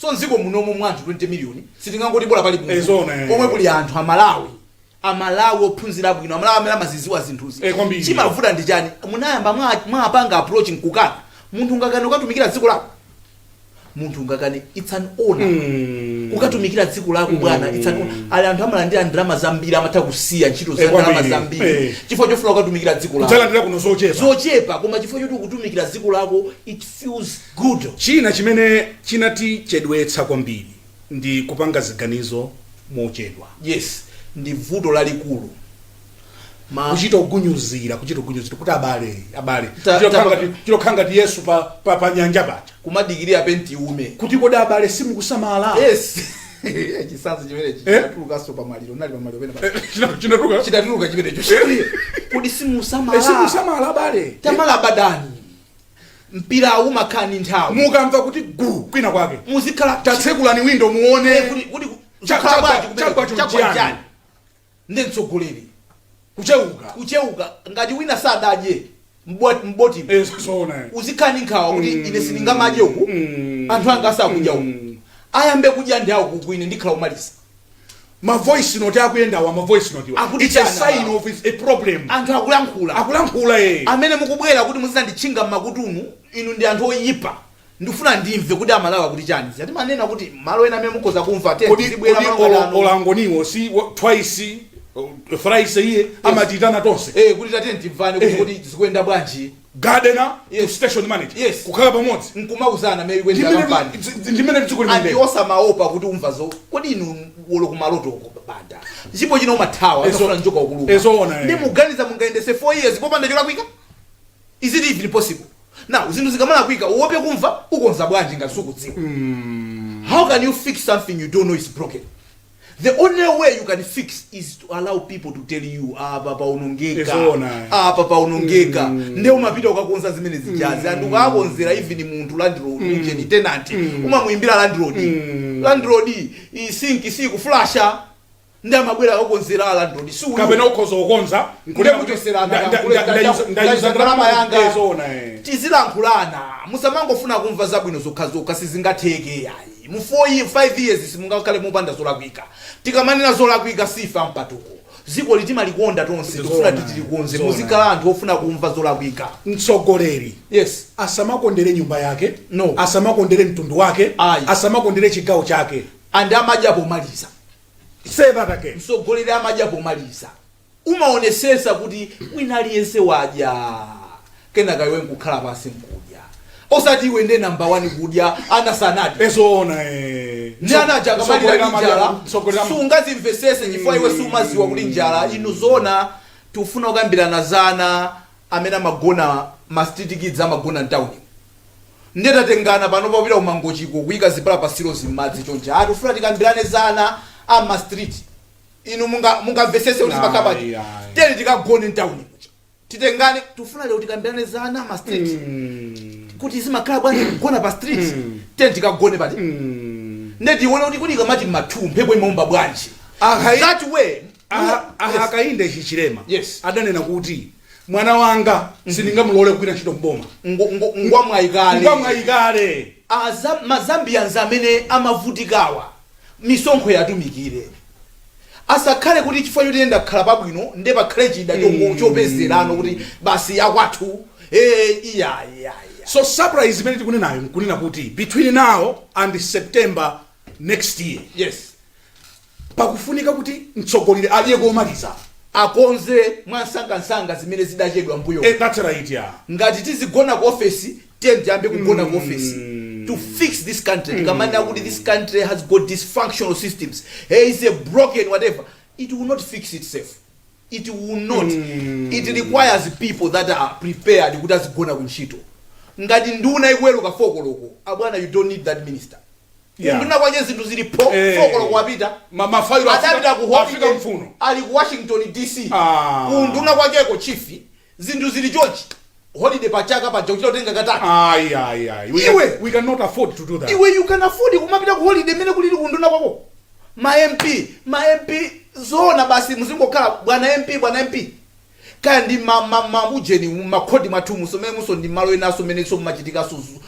Speaker 1: So mdziko munomo mwa anthu 20 million sitingangoti bola pali munthu Ezona, eh. pomwe kuli anthu amalawi amalawi ophunzira bwino amalawi amene amazidziwa zinthuzi Eh, kwambiri. chimavuta ndi chani munayamba mwa- mwapanga approach nkukana munthu ungakane kukatumikira dziko lako munthu ungakane it's an honor Mm. kukatumikira dziko lako bwana it's an honor. ali anthu amalandira ndalama zambiri amatha kusiya ntchito za Eh, ndalama kwambiri. zambiri Eh. chifukwa chofuna kukatumikira dziko lako Udzalandira kuno zochepa. zochepa
Speaker 2: koma
Speaker 1: chifukwa choti ukutumikira dziko lako it feels Good. China
Speaker 2: chimene chinatichedwetsa kwambiri ndi kupanga ziganizo mochedwa.
Speaker 1: Yes, ndi vuto lalikulu. Ma.
Speaker 2: Kuchita kugunyuzira, kuchita kugunyuzira kuti abale, abale. Ta- Kuchita ta- kukhala ngati- kuchita kukhala ngati Yesu pa, pa, pa nyanja paja. Kumadikirira
Speaker 1: penti iume. Kuti kodi
Speaker 2: abale simukusamala?
Speaker 1: Yes. Chisanzo chimenechi Eh? chinatulukanso pa maliro. Nali pa maliro penapa. China- Chinatuka. Chinatuluka chimenecho. Kodi simusamala? Simusamala abale. Tamala Banda ni. mpira umakhala ndi nthawi mukamva kuti
Speaker 2: gu kwina kwake muzikhala
Speaker 1: tatsekulani windo
Speaker 2: Eh, muone kuti- kuti ku- Chagwa-
Speaker 1: chagwa bwanji kumene- chagwa chino chagwa chiyani? chiyani? nde mtsogoleri kucheuka kucheuka ngati wina sadadye mbot- mboti Eh, zoona eh. uzikhala ndi nkhawa kuti Mm. ine sindingamadye uku Mm. anthu anga asakudya uku Mm. ayambe kudya ndi awo uku ine ndikhala womaliza
Speaker 2: ma voice note akuyendawa ma voice note wa Akuti it's a chani sign wa. of a problem anthu
Speaker 1: akulankhula akulankhula eh amene mukubwera kuti muzinditchinga mmakutumu inu ndi anthu oyipa ndifuna ndimve kuti amalawi akuti chani timanena kuti malo ena amene mukhoza kumva nde kodi tizibwera kodi malo ola- ano.
Speaker 2: olangoniwo si wa- twice uh, thrice iye amatitana tonse Eh, kuti tatiyeni timvane kuti
Speaker 1: Eh. kuti zikuyenda bwanji gardener
Speaker 2: yes. to station manager yes. kukhala pamodzi nkumauzana mmene
Speaker 1: ikuendera kampani ndi mmene dziko
Speaker 2: limene anthu, osamaopa kuti
Speaker 1: umva zo kodi inu olo kumaloto uko banda mpaka chino umathawa Ezo- akafuna njoka ukuluka ezoona, eh. nde muganiza mungaendetse 4 years popanda cholakwika is it even possible now zinthu zikamalakwika uope kumva ukonza bwanji ngati sukudziwa how can you fix something you don't know is broken The only way you can fix is to allow people to tell you apa paonongeka Ezoona. apa paonongeka nde umapita ukakonza zimene zijazi anthu akakonzera even munthu landlord ujeni tenant umamuimbira landlord landlord iyi sinki sikuflasha nde amabwera akakonzera a landlord si uyu. kapena ukhoza
Speaker 2: kukonza Ndiye
Speaker 1: kuchotserana, Nda- nda- nda- nda- ndayuza- ndayuza ndalama yanga. Ezoona, eh. tizilankhulana musamangofuna kumva zabwino zokhazokha sizingatheke ayi Mu 5 years simungakhale mopanda zolakwika. Tikamanena zolakwika siife ampatuko. Dzikoli timalikonda tonse Ndi tikufuna zoona. kuti tilikonze. Zoona. Muzikhala anthu ofuna kumva zolakwika. mtsogoleri
Speaker 2: Yes. asamakondere nyumba yake No. asamakondere mtundu wake Ayi. asamakondere chigawo chake And amadya
Speaker 1: pomaliza. say that
Speaker 2: again Mtsogoleri amadya
Speaker 1: pomaliza. umaonetsetsa kuti wina aliyense wadya kenaka iwe nkukhala pansi nkudya osati iwe nde namba wani kudya ana sanadye zoona ndi ana aja akamalira ndi njala sungazimvetsetse chifukwa iwe sumadziwa kuti njala inu zoona tikufuna kukambirana za ana amene amagona ma street kids amagona mtauni ndiye tatengana pano popita ku Mangochiko kuyika zipala pansi zili m'madzi chonchi ati tifuna tikambirane za ana a ma street inu munga- mungamvetsetse kuti zimakhala bwanji Ayi, ayi. tiyeni tikagone mtawuni muja titengane tifuna lero tikambirane za ana a ma street kuti zimakhala bwanji kugona pa street tiyeni tikagone panja nde tione kuti tikamati mmathu mphepo imaomba bwanji Akai- that way Aha- aha Yes. Hakainde
Speaker 2: Hichilema Yes. adanena kuti mwana wanga sindingamulole kugwira ntchito mboma Ngo- ngo- ngwamwayi kale ngwamwayi kale mazambians
Speaker 1: amene amavutikawa misonkho yawo atumikire asakhale kuti chifukwa choti ine ndakhala pabwino nde pakhale chida chongo- chopezerapo kuti basi yakwathu eh, iya
Speaker 2: iya iya so surprise imene tikunenayo nkunena kuti between now and september next year yes pakufunika kuti mtsogoleri aliyeko amalize akonze
Speaker 1: mwansangansanga zimene zidachedwa mbuyo Eh, that's right yeah.
Speaker 2: ngati tizigona ku
Speaker 1: ofesi tiyeni tiyambe kugona ku ofesi to fix this country tikamanena kuti this country has got dysfunctional systems hey, is a broken whatever it will not fix itself it will not it requires people that are prepared kuti azigona ku ntchito ngati nduna ikuweruka fokoloko abwana you don't need that minister Yeah. nduna kwache zinthu zilipo Eh. fokoloko wapita Ma- mafailo afika- adapita
Speaker 2: ku Africa holiday,
Speaker 1: muno. ali
Speaker 2: ku washington
Speaker 1: dc Ah. unduna kwacheko chief zinthu zili chonchi holiday pa chaka paja kuchita kutenga katatu Ayi, ayi, ayi. We,
Speaker 2: Iwe! can, we cannot afford to do that. iwe you can afford
Speaker 1: kumapita ku holiday mmene kulili kuunduna kwako ma mp ma mp zoona basi muzingokhala bwana mp bwana mp kaya ndi ma- ma- maujeni makhoti mwathu musu mmenemuso ndi malo enanso amenenso mumachitikanso zu-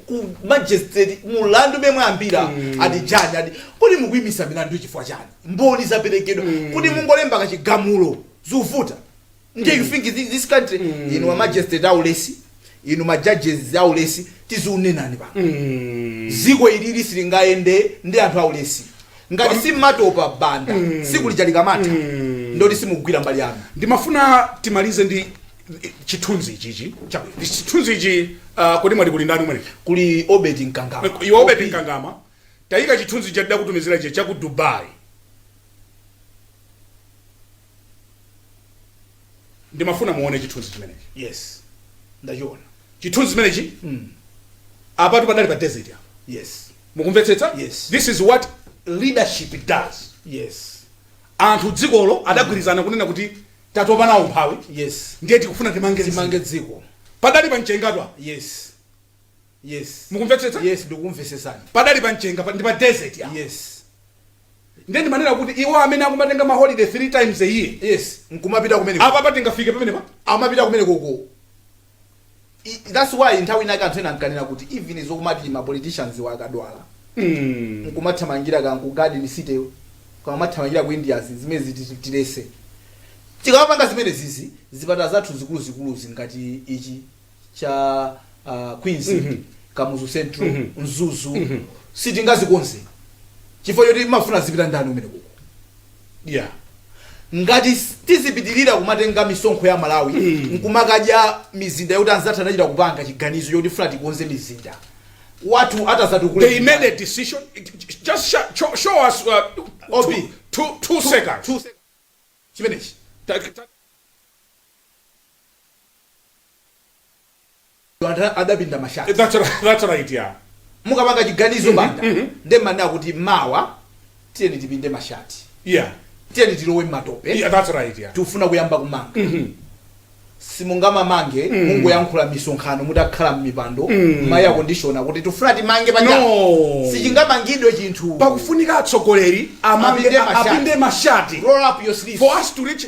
Speaker 1: ku magistrate mulandu womwe ayambira ati chani ati kodi mukuyimisa milandu chifukwa chani mboni zaperekedwa kuti mungolemba kachigamulo zikuvuta ndiye you think thi- this country inu ma magistrate aulesi inu ma judges aulesi tiziunenani pa ziko ilili silingayende ndi anthu aulesi ngati simatopa banda siku lija likamatha ndoti simugwira mbali yanu
Speaker 2: ndimafuna timalize ndi chithunzi ichichi chabwino Ndi chithunzi ichi ah, kodi mwati kuli ndani umene kuli obed nkangama
Speaker 1: iwe obed nkangama
Speaker 2: tayika chithunzi cha ndidakutumizira ichi chaku dubai ndimafuna muone chithunzi chimenechi
Speaker 1: yes ndachiona chithunzi chimenechi
Speaker 2: apatu padali pa desert apa yes
Speaker 1: mukumvetsetsa Yes.
Speaker 2: this is what leadership does
Speaker 1: yes
Speaker 2: anthu dzikolo adagwirizana kunena kuti tatopa nawo umphawi yes ndiye tikufuna
Speaker 1: timange
Speaker 2: timange dziko dziko padali
Speaker 1: pa mchengatu
Speaker 2: yes
Speaker 1: Yes. mukumvetsetsa
Speaker 2: Yes,
Speaker 1: ndikumvesesani. padali pa mchenga pa-
Speaker 2: ndi pa desert ya
Speaker 1: Yes.
Speaker 2: ndiye ndimanena kuti iwo amene akumatenga ma holiday three times a year Yes. Nkumapita
Speaker 1: kumene. apa apa tingafike pamenepa
Speaker 2: amapita kumeneko
Speaker 1: ko. I- That's why nthawi inaka anthu ena ankanena kuti even izi zomati ma politicians wa akadwala. Mm. Nkumathamangira kaya ku garden city. Kaya mathamangira ku India zi- zimene zi tileke. Tikamapanga zimene zizi zipata zathu zikulu zikulu zi ngati ichi cha uh, queens Mhm. kamuzu central Mhm. mzuzu Mhm. sitingazikonze chifukwa choti mumafuna azipita ndani kumeneku
Speaker 2: ko yeah ngati
Speaker 1: s- tizipitirira kumatenga misonkho ya malawi Mm. nkumakadya m'mizinda yoti anzathu anachita kupanga chiganizo choti tifuna tikonze mzinda wathu atazatukule they made a
Speaker 2: decision just show, show, show us uh, OB. two, two, two seconds Two seconds. chimenechi
Speaker 1: Ta- ta- Banda adapinda mashati. That's right, that's right,
Speaker 2: yeah. Mukapanga
Speaker 1: chiganizo Banda ndiye mumanena kuti mawa tiyeni tipinde mashati, Yeah,
Speaker 2: tiyeni tilowe
Speaker 1: m'matope, yeah, that's right, yeah. tikufuna
Speaker 2: kuyamba kumanga.
Speaker 1: Simungamamange mungoyankhula m'misonkhano mutakhala m'mipando mwa eya kondishona kuti tifuna timange panja No. sichingamangidwe
Speaker 2: chinthu
Speaker 1: pakufunika atsogoleri
Speaker 2: amange Apinde mashati. apinde mashati roll up your sleeves for
Speaker 1: us to reach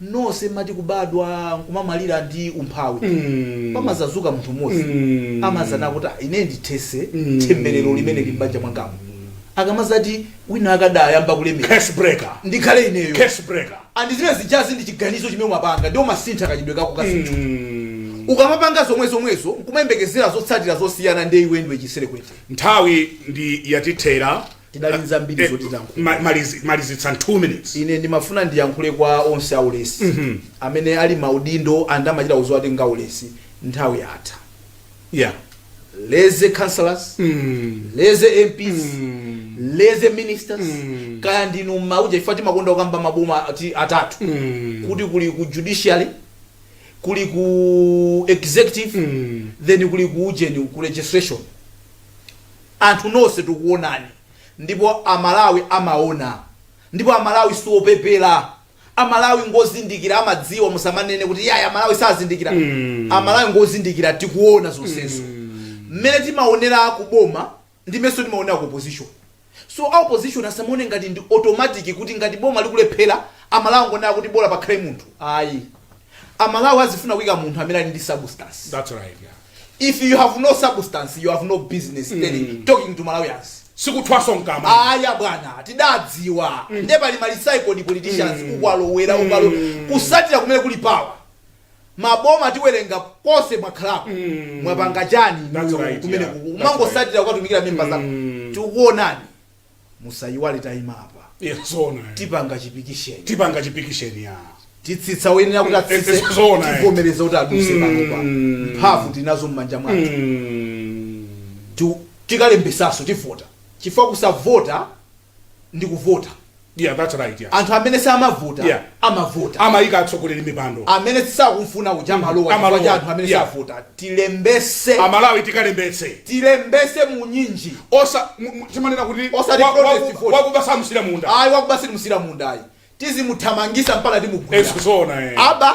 Speaker 1: nose mmati kubadwa nkumamalira ndi umphawi mm. pamazazuka munthu mmodzi mm. amazana kuti "Ah, ine ndithese mm. themberero limene lili m'banja mwangamo akamazati wina adayamba kulemera curse breaker
Speaker 2: ndikhale ineyo
Speaker 1: curse breaker
Speaker 2: and zimene zijazi
Speaker 1: ndi chiganizo chimene umapanga ndi umasintha kachitidwe kako ka zinthu mm. ukamapanga zomwe zomwezo nkumayembekezera zotsatira zosiyana ndi iwe ndiwe chiserekwete nthawi
Speaker 2: ndiye yatithera tidali ndi zambiri
Speaker 1: Eh, zoti tilankhule ma- malizi- malizitsa
Speaker 2: 2 minutes ine ndimafuna
Speaker 1: ndiyankhule kwa onse aulesi amene ali maudindo and amachita kuuzidwa kuti ngaulesi nthawi yatha yeah lazy councillors lazy mps lazy ministers kaya ndinu mauja ife timakonda kukamba maboma atatu kuti kuli ku judiciary kuli ku executive then kuli ku ujeni ku legislation Anthu nonse tikuonani ndipo amalawi amaona ndipo amalawi siopepela amalawi ngozindikila amadziwa musamanene kuti iyayi amalawi sazindikila amalawi ngozindikila tikuona zonsezo mmene timaonela kuboma ndi mmenenso timaonela ku opposition so a opposition asamaone ngati ndi automatic kuti ngati boma likulephela amalawi angonena kuti bola pakhale munthu ayi amalawi azifuna
Speaker 2: kuika
Speaker 1: munthu amene ali ndi substance
Speaker 2: That's
Speaker 1: right, yeah. if you have no substance you have no business talking to malawians sikuthwaso mkama
Speaker 2: aya bwana
Speaker 1: tidadziwa nde pali ma recycled politicians kukwalowera ukalo kusatira kumene kuli power maboma tiwerenga konse mwakhalako mwapanga chani That's inuyo right, kumene yeah. kuku That's umangosatira kutumikira memba zako tikuonani musayiwale tayima apa Yeah, zoona
Speaker 2: eh. tipanga
Speaker 1: chipikisheni tipanga chipikisheni
Speaker 2: ya titsitsa woyenera
Speaker 1: kuti atsitse Eh, eh, zoona, eh. tivomereza kuti aduse Mm. panopa mphamvu tinazo m'manja mwathu Mm. Ti- tikalembesanso tivota chifukwa kusavota ndi kuvota yeah that's right
Speaker 2: yeah anthu amene samavota
Speaker 1: Yeah. amavota amaika
Speaker 2: atsogoleri m'mipando amene
Speaker 1: sakumfuna uja amalowa chifukwa Amalowa. cha anthu amene Yeah. savota tilembese amalawi tikalembetse
Speaker 2: tilembese
Speaker 1: munyinji osa mu- mu-
Speaker 2: timanena kuti Osati wa- protest waku- vote.
Speaker 1: wakuba samusiira munda
Speaker 2: ayi wakuba sitimusiira
Speaker 1: munda ayi tizimuthamangisa mpaka timugwira eh zoona aba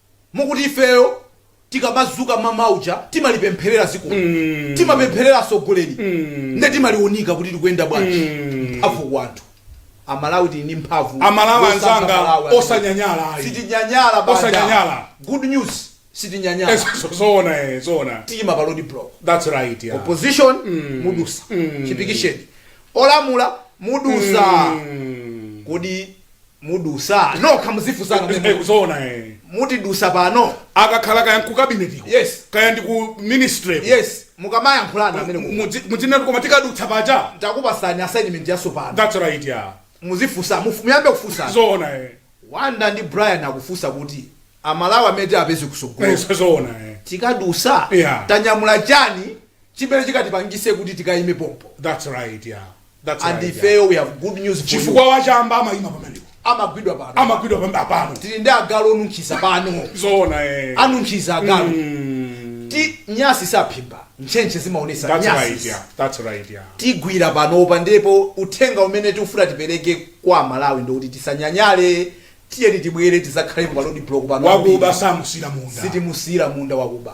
Speaker 1: Mukuti ifeyo tikamazuka mamawa uja timalipempherera zikoli timapempherera asogoleli nde timalionika kuti likuyenda bwanji mphavu kwa anthu amalawi tili ndi mphavu amalawi anzanga
Speaker 2: osanyanyala ayi sitinyanyala banda.
Speaker 1: Osanyanyala.
Speaker 2: good
Speaker 1: news sitinyanyala Eso- so- zoona
Speaker 2: eh, zoona tiyima pa
Speaker 1: road block that's right
Speaker 2: yeah. opposition
Speaker 1: mudusa chipikisheni olamula mudusa kodi mudusa nokha muzifunsana Eh, mene zoona
Speaker 2: eh.
Speaker 1: mutidusa pano akakhala kaya
Speaker 2: ku cabinet ko Yes. kaya ndi ku ministry ko. yes
Speaker 1: mukamayankhulana amene ku- Mudzi- mudzinatu koma
Speaker 2: tikadutsa paja ndakupasani
Speaker 1: assignment yasopano that's right
Speaker 2: ya muzifusa
Speaker 1: mufu- muyambe kufusa zoona
Speaker 2: eh. banda
Speaker 1: ndi brian akufusa kuti amalawi amene tiapeze Eh, kusogolo zoona eh.
Speaker 2: tikadusa
Speaker 1: Yeah. tanyamula chani chimene chikatipangise kuti tikayime pompo That's right,
Speaker 2: yeah. That's and right, yeah. ifeyo we
Speaker 1: have good news for you chifukwa wachamba
Speaker 2: amayima pamenepo amagwidwa pano
Speaker 1: amagwidwa pambe apano tili ndi agalu onunkhiza pano zoona eh.
Speaker 2: anunkhiza
Speaker 1: agalu ti nyasi saphimba ntchentche zimaonesa That's right, nyasi yeah. That's right,
Speaker 2: yeah. tigwira
Speaker 1: panopa ndipo uthenga umene tikufuna tipereke kwa amalawi ndikuti tisanyanyale tiyeni tibwere tizakhale pa road block pano wakuba samusiyira
Speaker 2: munda sitimusiyira munda
Speaker 1: wakuba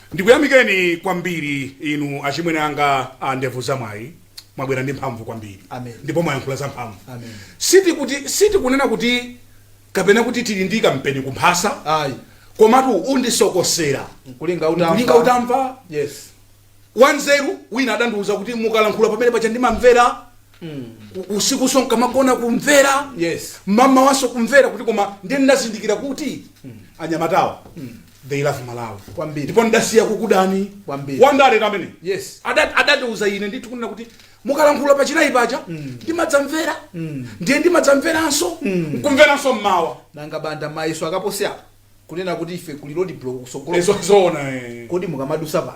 Speaker 2: Ndikuyamikeni kwambiri inu achimwene anga a ndevu zamwayi mwabwera ndi mphamvu kwambiri Amen. ndipo mwayankhula
Speaker 1: za
Speaker 2: mphamvu Amen. sitikuti sitikunena kuti kapena kuti tili ndi kampeni kumphasa Ayi. komatu undisokosera Nkulinga
Speaker 1: utamva. Nkulinga
Speaker 2: utamva.
Speaker 1: Yes.
Speaker 2: wanzeru wina adandiuza kuti mukalankhula pamene paja ndimamvera U- usikunso nkamagona kumvera Yes. mamawanso
Speaker 1: kumvera
Speaker 2: kuti koma ndiye ndinazindikira kuti anyamatawa they love malawi kwambiri ndipo
Speaker 1: ndasiya
Speaker 2: kukudani kwambiri wandale
Speaker 1: amene
Speaker 2: yes adati adati
Speaker 1: uza ine
Speaker 2: ndithu kunena kuti mukalankhula pa chinayi paja mm. ndimadzamvera mm. ndiye ndimadzamveranso mm. nkumveranso mmawa nanga banda
Speaker 1: mayiso akaposi apa kunena kuti ife kuli road block kusogolo zoona
Speaker 2: kodi mukamadusa
Speaker 1: pa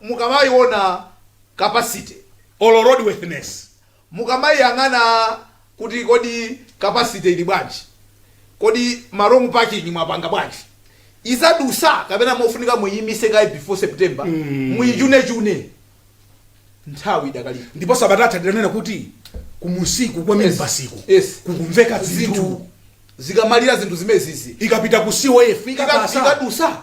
Speaker 1: mukamaiona capacity or
Speaker 2: road worthiness
Speaker 1: mukamaiyang'ana kuti kodi capacity ili bwanji, kodi ma wrong parking mwapanga bwanji, izadusa kapena mofunika muiimise kaye before September muichunechune nthawi idakalipo. ndipo sabata yatha
Speaker 2: tinanena kuti kumusiku kwa minibasiku Yes. kukumveka zinthu zinthu zikamalira
Speaker 1: zinthu zimezizi ikapita ku cof
Speaker 2: ikaka- ikadutsa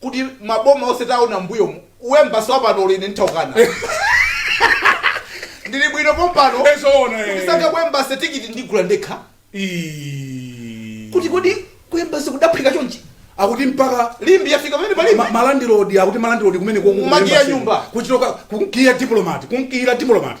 Speaker 1: kuti maboma onse taona m'mbuyomu u embassy wapano olo ine nditaukana ndili bwino pompano Eh, zoona, eh. ndisankha
Speaker 2: ku
Speaker 1: embassy tikiti ndigula ndekha Ii. kuti kodi ku embassy kudaphika chonchi akuti
Speaker 2: mpaka limbi yafika pamene
Speaker 1: palibe ma- malandilodi akuti
Speaker 2: malandilodi kumene Kumakiya nyumba.
Speaker 1: kuchitoka kunkiya
Speaker 2: diplomati kunkiyira diplomati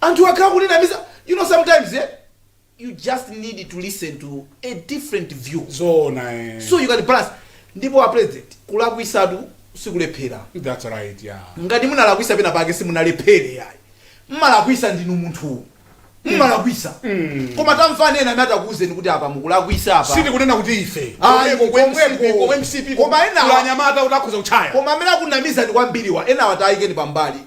Speaker 1: Anthuwa akhala akutinamiza you know sometimes eh you just need to listen to a different view zoona eh so
Speaker 2: you can balance
Speaker 1: ndipo a president kulakwisatu sikulephera that's right
Speaker 2: yeah ngati munalakwisa pena
Speaker 1: pake simunalephere yayi mmalakwisa ndinu munthu mmalakwisa koma tamvani ena amene atakuwuzeni kuti apa mukulakwisa apa sindikunena kuti ife
Speaker 2: Ayi, Komweko, komweko. komweko,
Speaker 1: komwe mcp Koma ena- kuli
Speaker 2: anyamata oti akhoza kuchaya koma amene akunamizani
Speaker 1: kwambiriwa enawa tayikeni pambali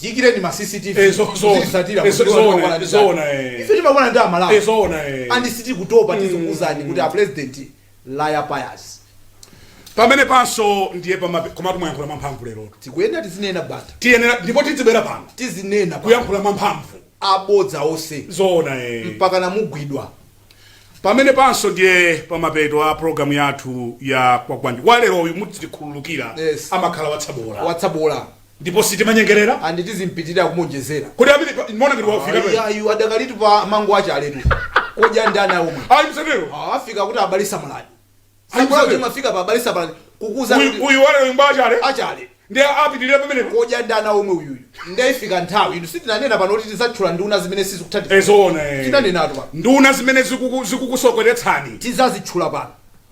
Speaker 2: tiyikireni
Speaker 1: ma cctv Eh, zo- zo- tizisatira eh, zo- kuziona zoona, kwa
Speaker 2: nani zoona, zake. eh. ife timakwana ndi
Speaker 1: amalawi Eh, zoona, eh. and
Speaker 2: sitikutopa
Speaker 1: tizikuuzani kuti a president laya payas pamene
Speaker 2: panso ndiye pamape- komatu mwayankhula mwamphamvu lero tikuyenera tizinena bata
Speaker 1: tiyenera ndipo
Speaker 2: tidzibwera pano tizinena bata.
Speaker 1: kuyankhula
Speaker 2: mwamphamvu abodza
Speaker 1: onse zoona eh.
Speaker 2: mpaka
Speaker 1: namugwidwa pamene
Speaker 2: panso ndiye pamapeto a programu yathu ya kwagwanji waleroyu mutikhululukira Yes. amakhala watsabola watsabola Ndipo sitimanyengerera. And
Speaker 1: tizipitirira kumuonjezera. Kodi amene pa, muona
Speaker 2: ngati wafika Ayi, pano. ayi, adakalitu
Speaker 1: pa mango achauletu. Kodya ndani awo mwe. Ayi msatero. Ah, afika
Speaker 2: pa abale
Speaker 1: samalani. Ayi, Samalani msatero. timafika pa abale samalani. Kukuuza Uyu kuti uyu wale
Speaker 2: nyumba achaule. achaule.
Speaker 1: Ndiye
Speaker 2: apitirira pamene. Kodya ndani awo mwe
Speaker 1: uyuyu. Ndiye ifika nthawi. Inu sitinanena pano kuti tizatchula nduna zimene sizikuthandiza. Nzoona. eh. Tinanenatu
Speaker 2: pano. Nduna
Speaker 1: zimene zikuku-
Speaker 2: zikukusokeretsani. Tizazitchula
Speaker 1: pano.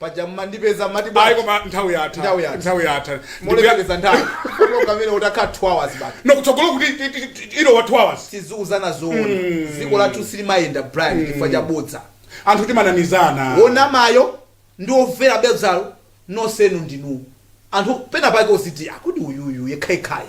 Speaker 1: Paja mumandipeza mmati Ayi bwanji? koma nthawi
Speaker 2: yatha. Nthawi yatha. Nthawi yatha. Ndikuya- Molemekeza
Speaker 1: nthawi. Program imeneyo itakhala 2 hours basi. No kutsogolo kuti ti- ti-
Speaker 2: ti- ilowa 2 hours. Tiziuzana zoona.
Speaker 1: Dziko lathu silimayenda Brian chifukwa cha bodza. Anthu
Speaker 2: timanamizana.
Speaker 1: Wonamayo ndi womvera bodzalo nonsenu ndinu anthu pena pake uziti ah kodi uyuyu yekhayekhayu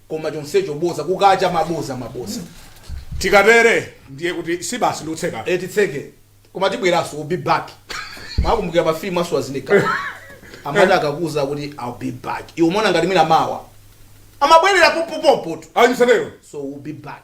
Speaker 1: koma chonsecho boza kukacha maboza
Speaker 2: maboza tikatere ndiye kuti si basi ndikutseka e titseke
Speaker 1: koma tibweraso we'll be back mwakumbukira pa film a Schwarzenegger amati akakuuza kuti i'll be back iwe umaona ngati mwina mawa amabwerera popopopo tu ayi msatero so
Speaker 2: we'll be back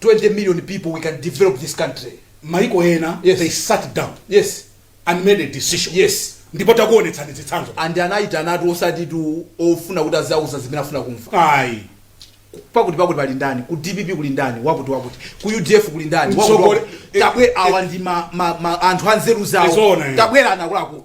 Speaker 1: 20 million people we can develop this country maiko
Speaker 2: ena yes. they sat down yes. and made a decision yes. ndipo takuonetsani zitsanzo and anayitanatu
Speaker 1: osati tu ofuna kuti azawauza zimene afuna kumva
Speaker 2: ayi
Speaker 1: pakuti pakuti pali ndani ku dpp kuli ndani wakuti wakuti ku udf kuli ndani wakuti Mtsogole- wakuti. tabwe awa ndi ma, ma, ma, anthu anzeru zawo Zoona, eh. tabwerani akuluaku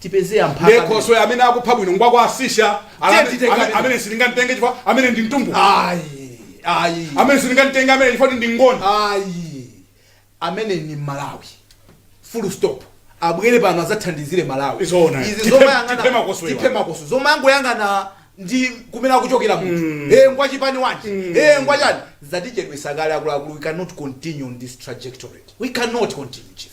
Speaker 1: tipeze amphaka Ndiye amene- khoswe amene akupha
Speaker 2: bwino ngwa kwa asisha Tiye amene- titenge amene- amene. amene sindingamtenge chifukwa amene ndi mtumbuka ayi ayi
Speaker 1: amene sindingamtenge
Speaker 2: amene chifukwa ndi ngoni ayi
Speaker 1: amene ni malawi full stop abwere pano azathandizire malawi Nzoona. izi Tiphe-
Speaker 2: zomayang'ana tiphe makoswe
Speaker 1: awa. tiphe makoswe zomayangoyang'ana ndi kumene akuchokera munthu eh ngwa chipani chanji eh ngwa chani zatichedwesa kale akuluakulu we cannot continue on this trajectory we cannot continue chief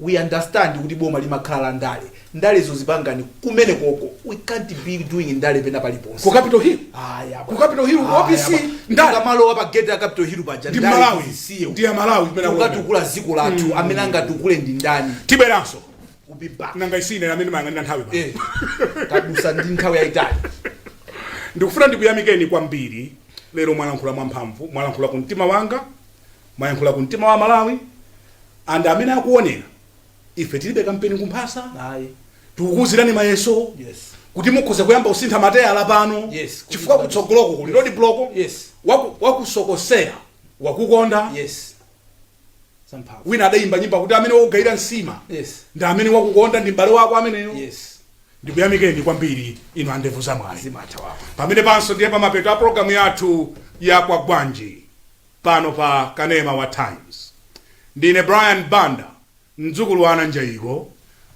Speaker 1: we understand kuti boma limakhala la ndale ndalezo muzipanga kumenekoko we can't be doing ndale pena paliponse ku capital hill Aya,
Speaker 2: ku capital hill
Speaker 1: ku opc
Speaker 2: Aya, ndale kumalowa pa
Speaker 1: gate ya capital hill paja ndi ndale malawi zisiye.
Speaker 2: ndi ya malawi kumene akuona. sitikatukula dziko
Speaker 1: lathu amene angatukule ndi ndani tibweranso
Speaker 2: We'll be back.
Speaker 1: nanga isine amene timayang'anira
Speaker 2: nthawi pano. Eh, kwadutsa ndi
Speaker 1: nthawi yayitali
Speaker 2: ndikufuna ndikuyamikeni kwambiri lero mwalankhula mwamphamvu mwalankhula ku mtima wanga Mwayankhula ku mtima wa amalawi and amene akuonera ife tilibe kampeni kumphasa
Speaker 1: ayi
Speaker 2: tikukuuzirani mayeso yes. kuti
Speaker 1: mukhoza kuyamba
Speaker 2: kusintha mateyala pano yes. chifukwa kutsogoloko
Speaker 1: kuli
Speaker 2: road block yes.
Speaker 1: wakusokosera
Speaker 2: wakukonda
Speaker 1: yes wina adayimba
Speaker 2: nyimbo kuti amene wakugayira nsima yes. ndi
Speaker 1: amene
Speaker 2: wakukonda ndi m'bale wako ameneyo
Speaker 1: yes ndikuyamikeni
Speaker 2: kwambiri inu andevu zamwayi pamene
Speaker 1: panso ndiye pamapeto
Speaker 2: a programu yathu ya Kwagwanji pano pa Kanema wa Times. Ndine Brian Banda, mdzukulu wa Ananjaiko.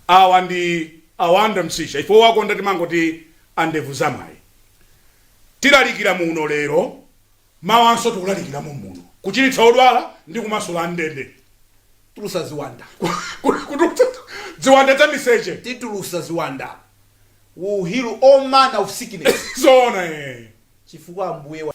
Speaker 2: Awa ndi a Wonder Msisha, ife owakonda timangoti a ndevu zamwayi. Tilalikira muno lero, mawanso tikulalikira mommuno, kuchiritsa odwala ndi kumasula am'ndende.
Speaker 1: tulutsa ziwanda Kutulutsa
Speaker 2: ziwanda za miseche. titulutsa ziwanda
Speaker 1: will heal all manner of sickness
Speaker 2: Zoona
Speaker 1: ee. chifukwa ambuye wa.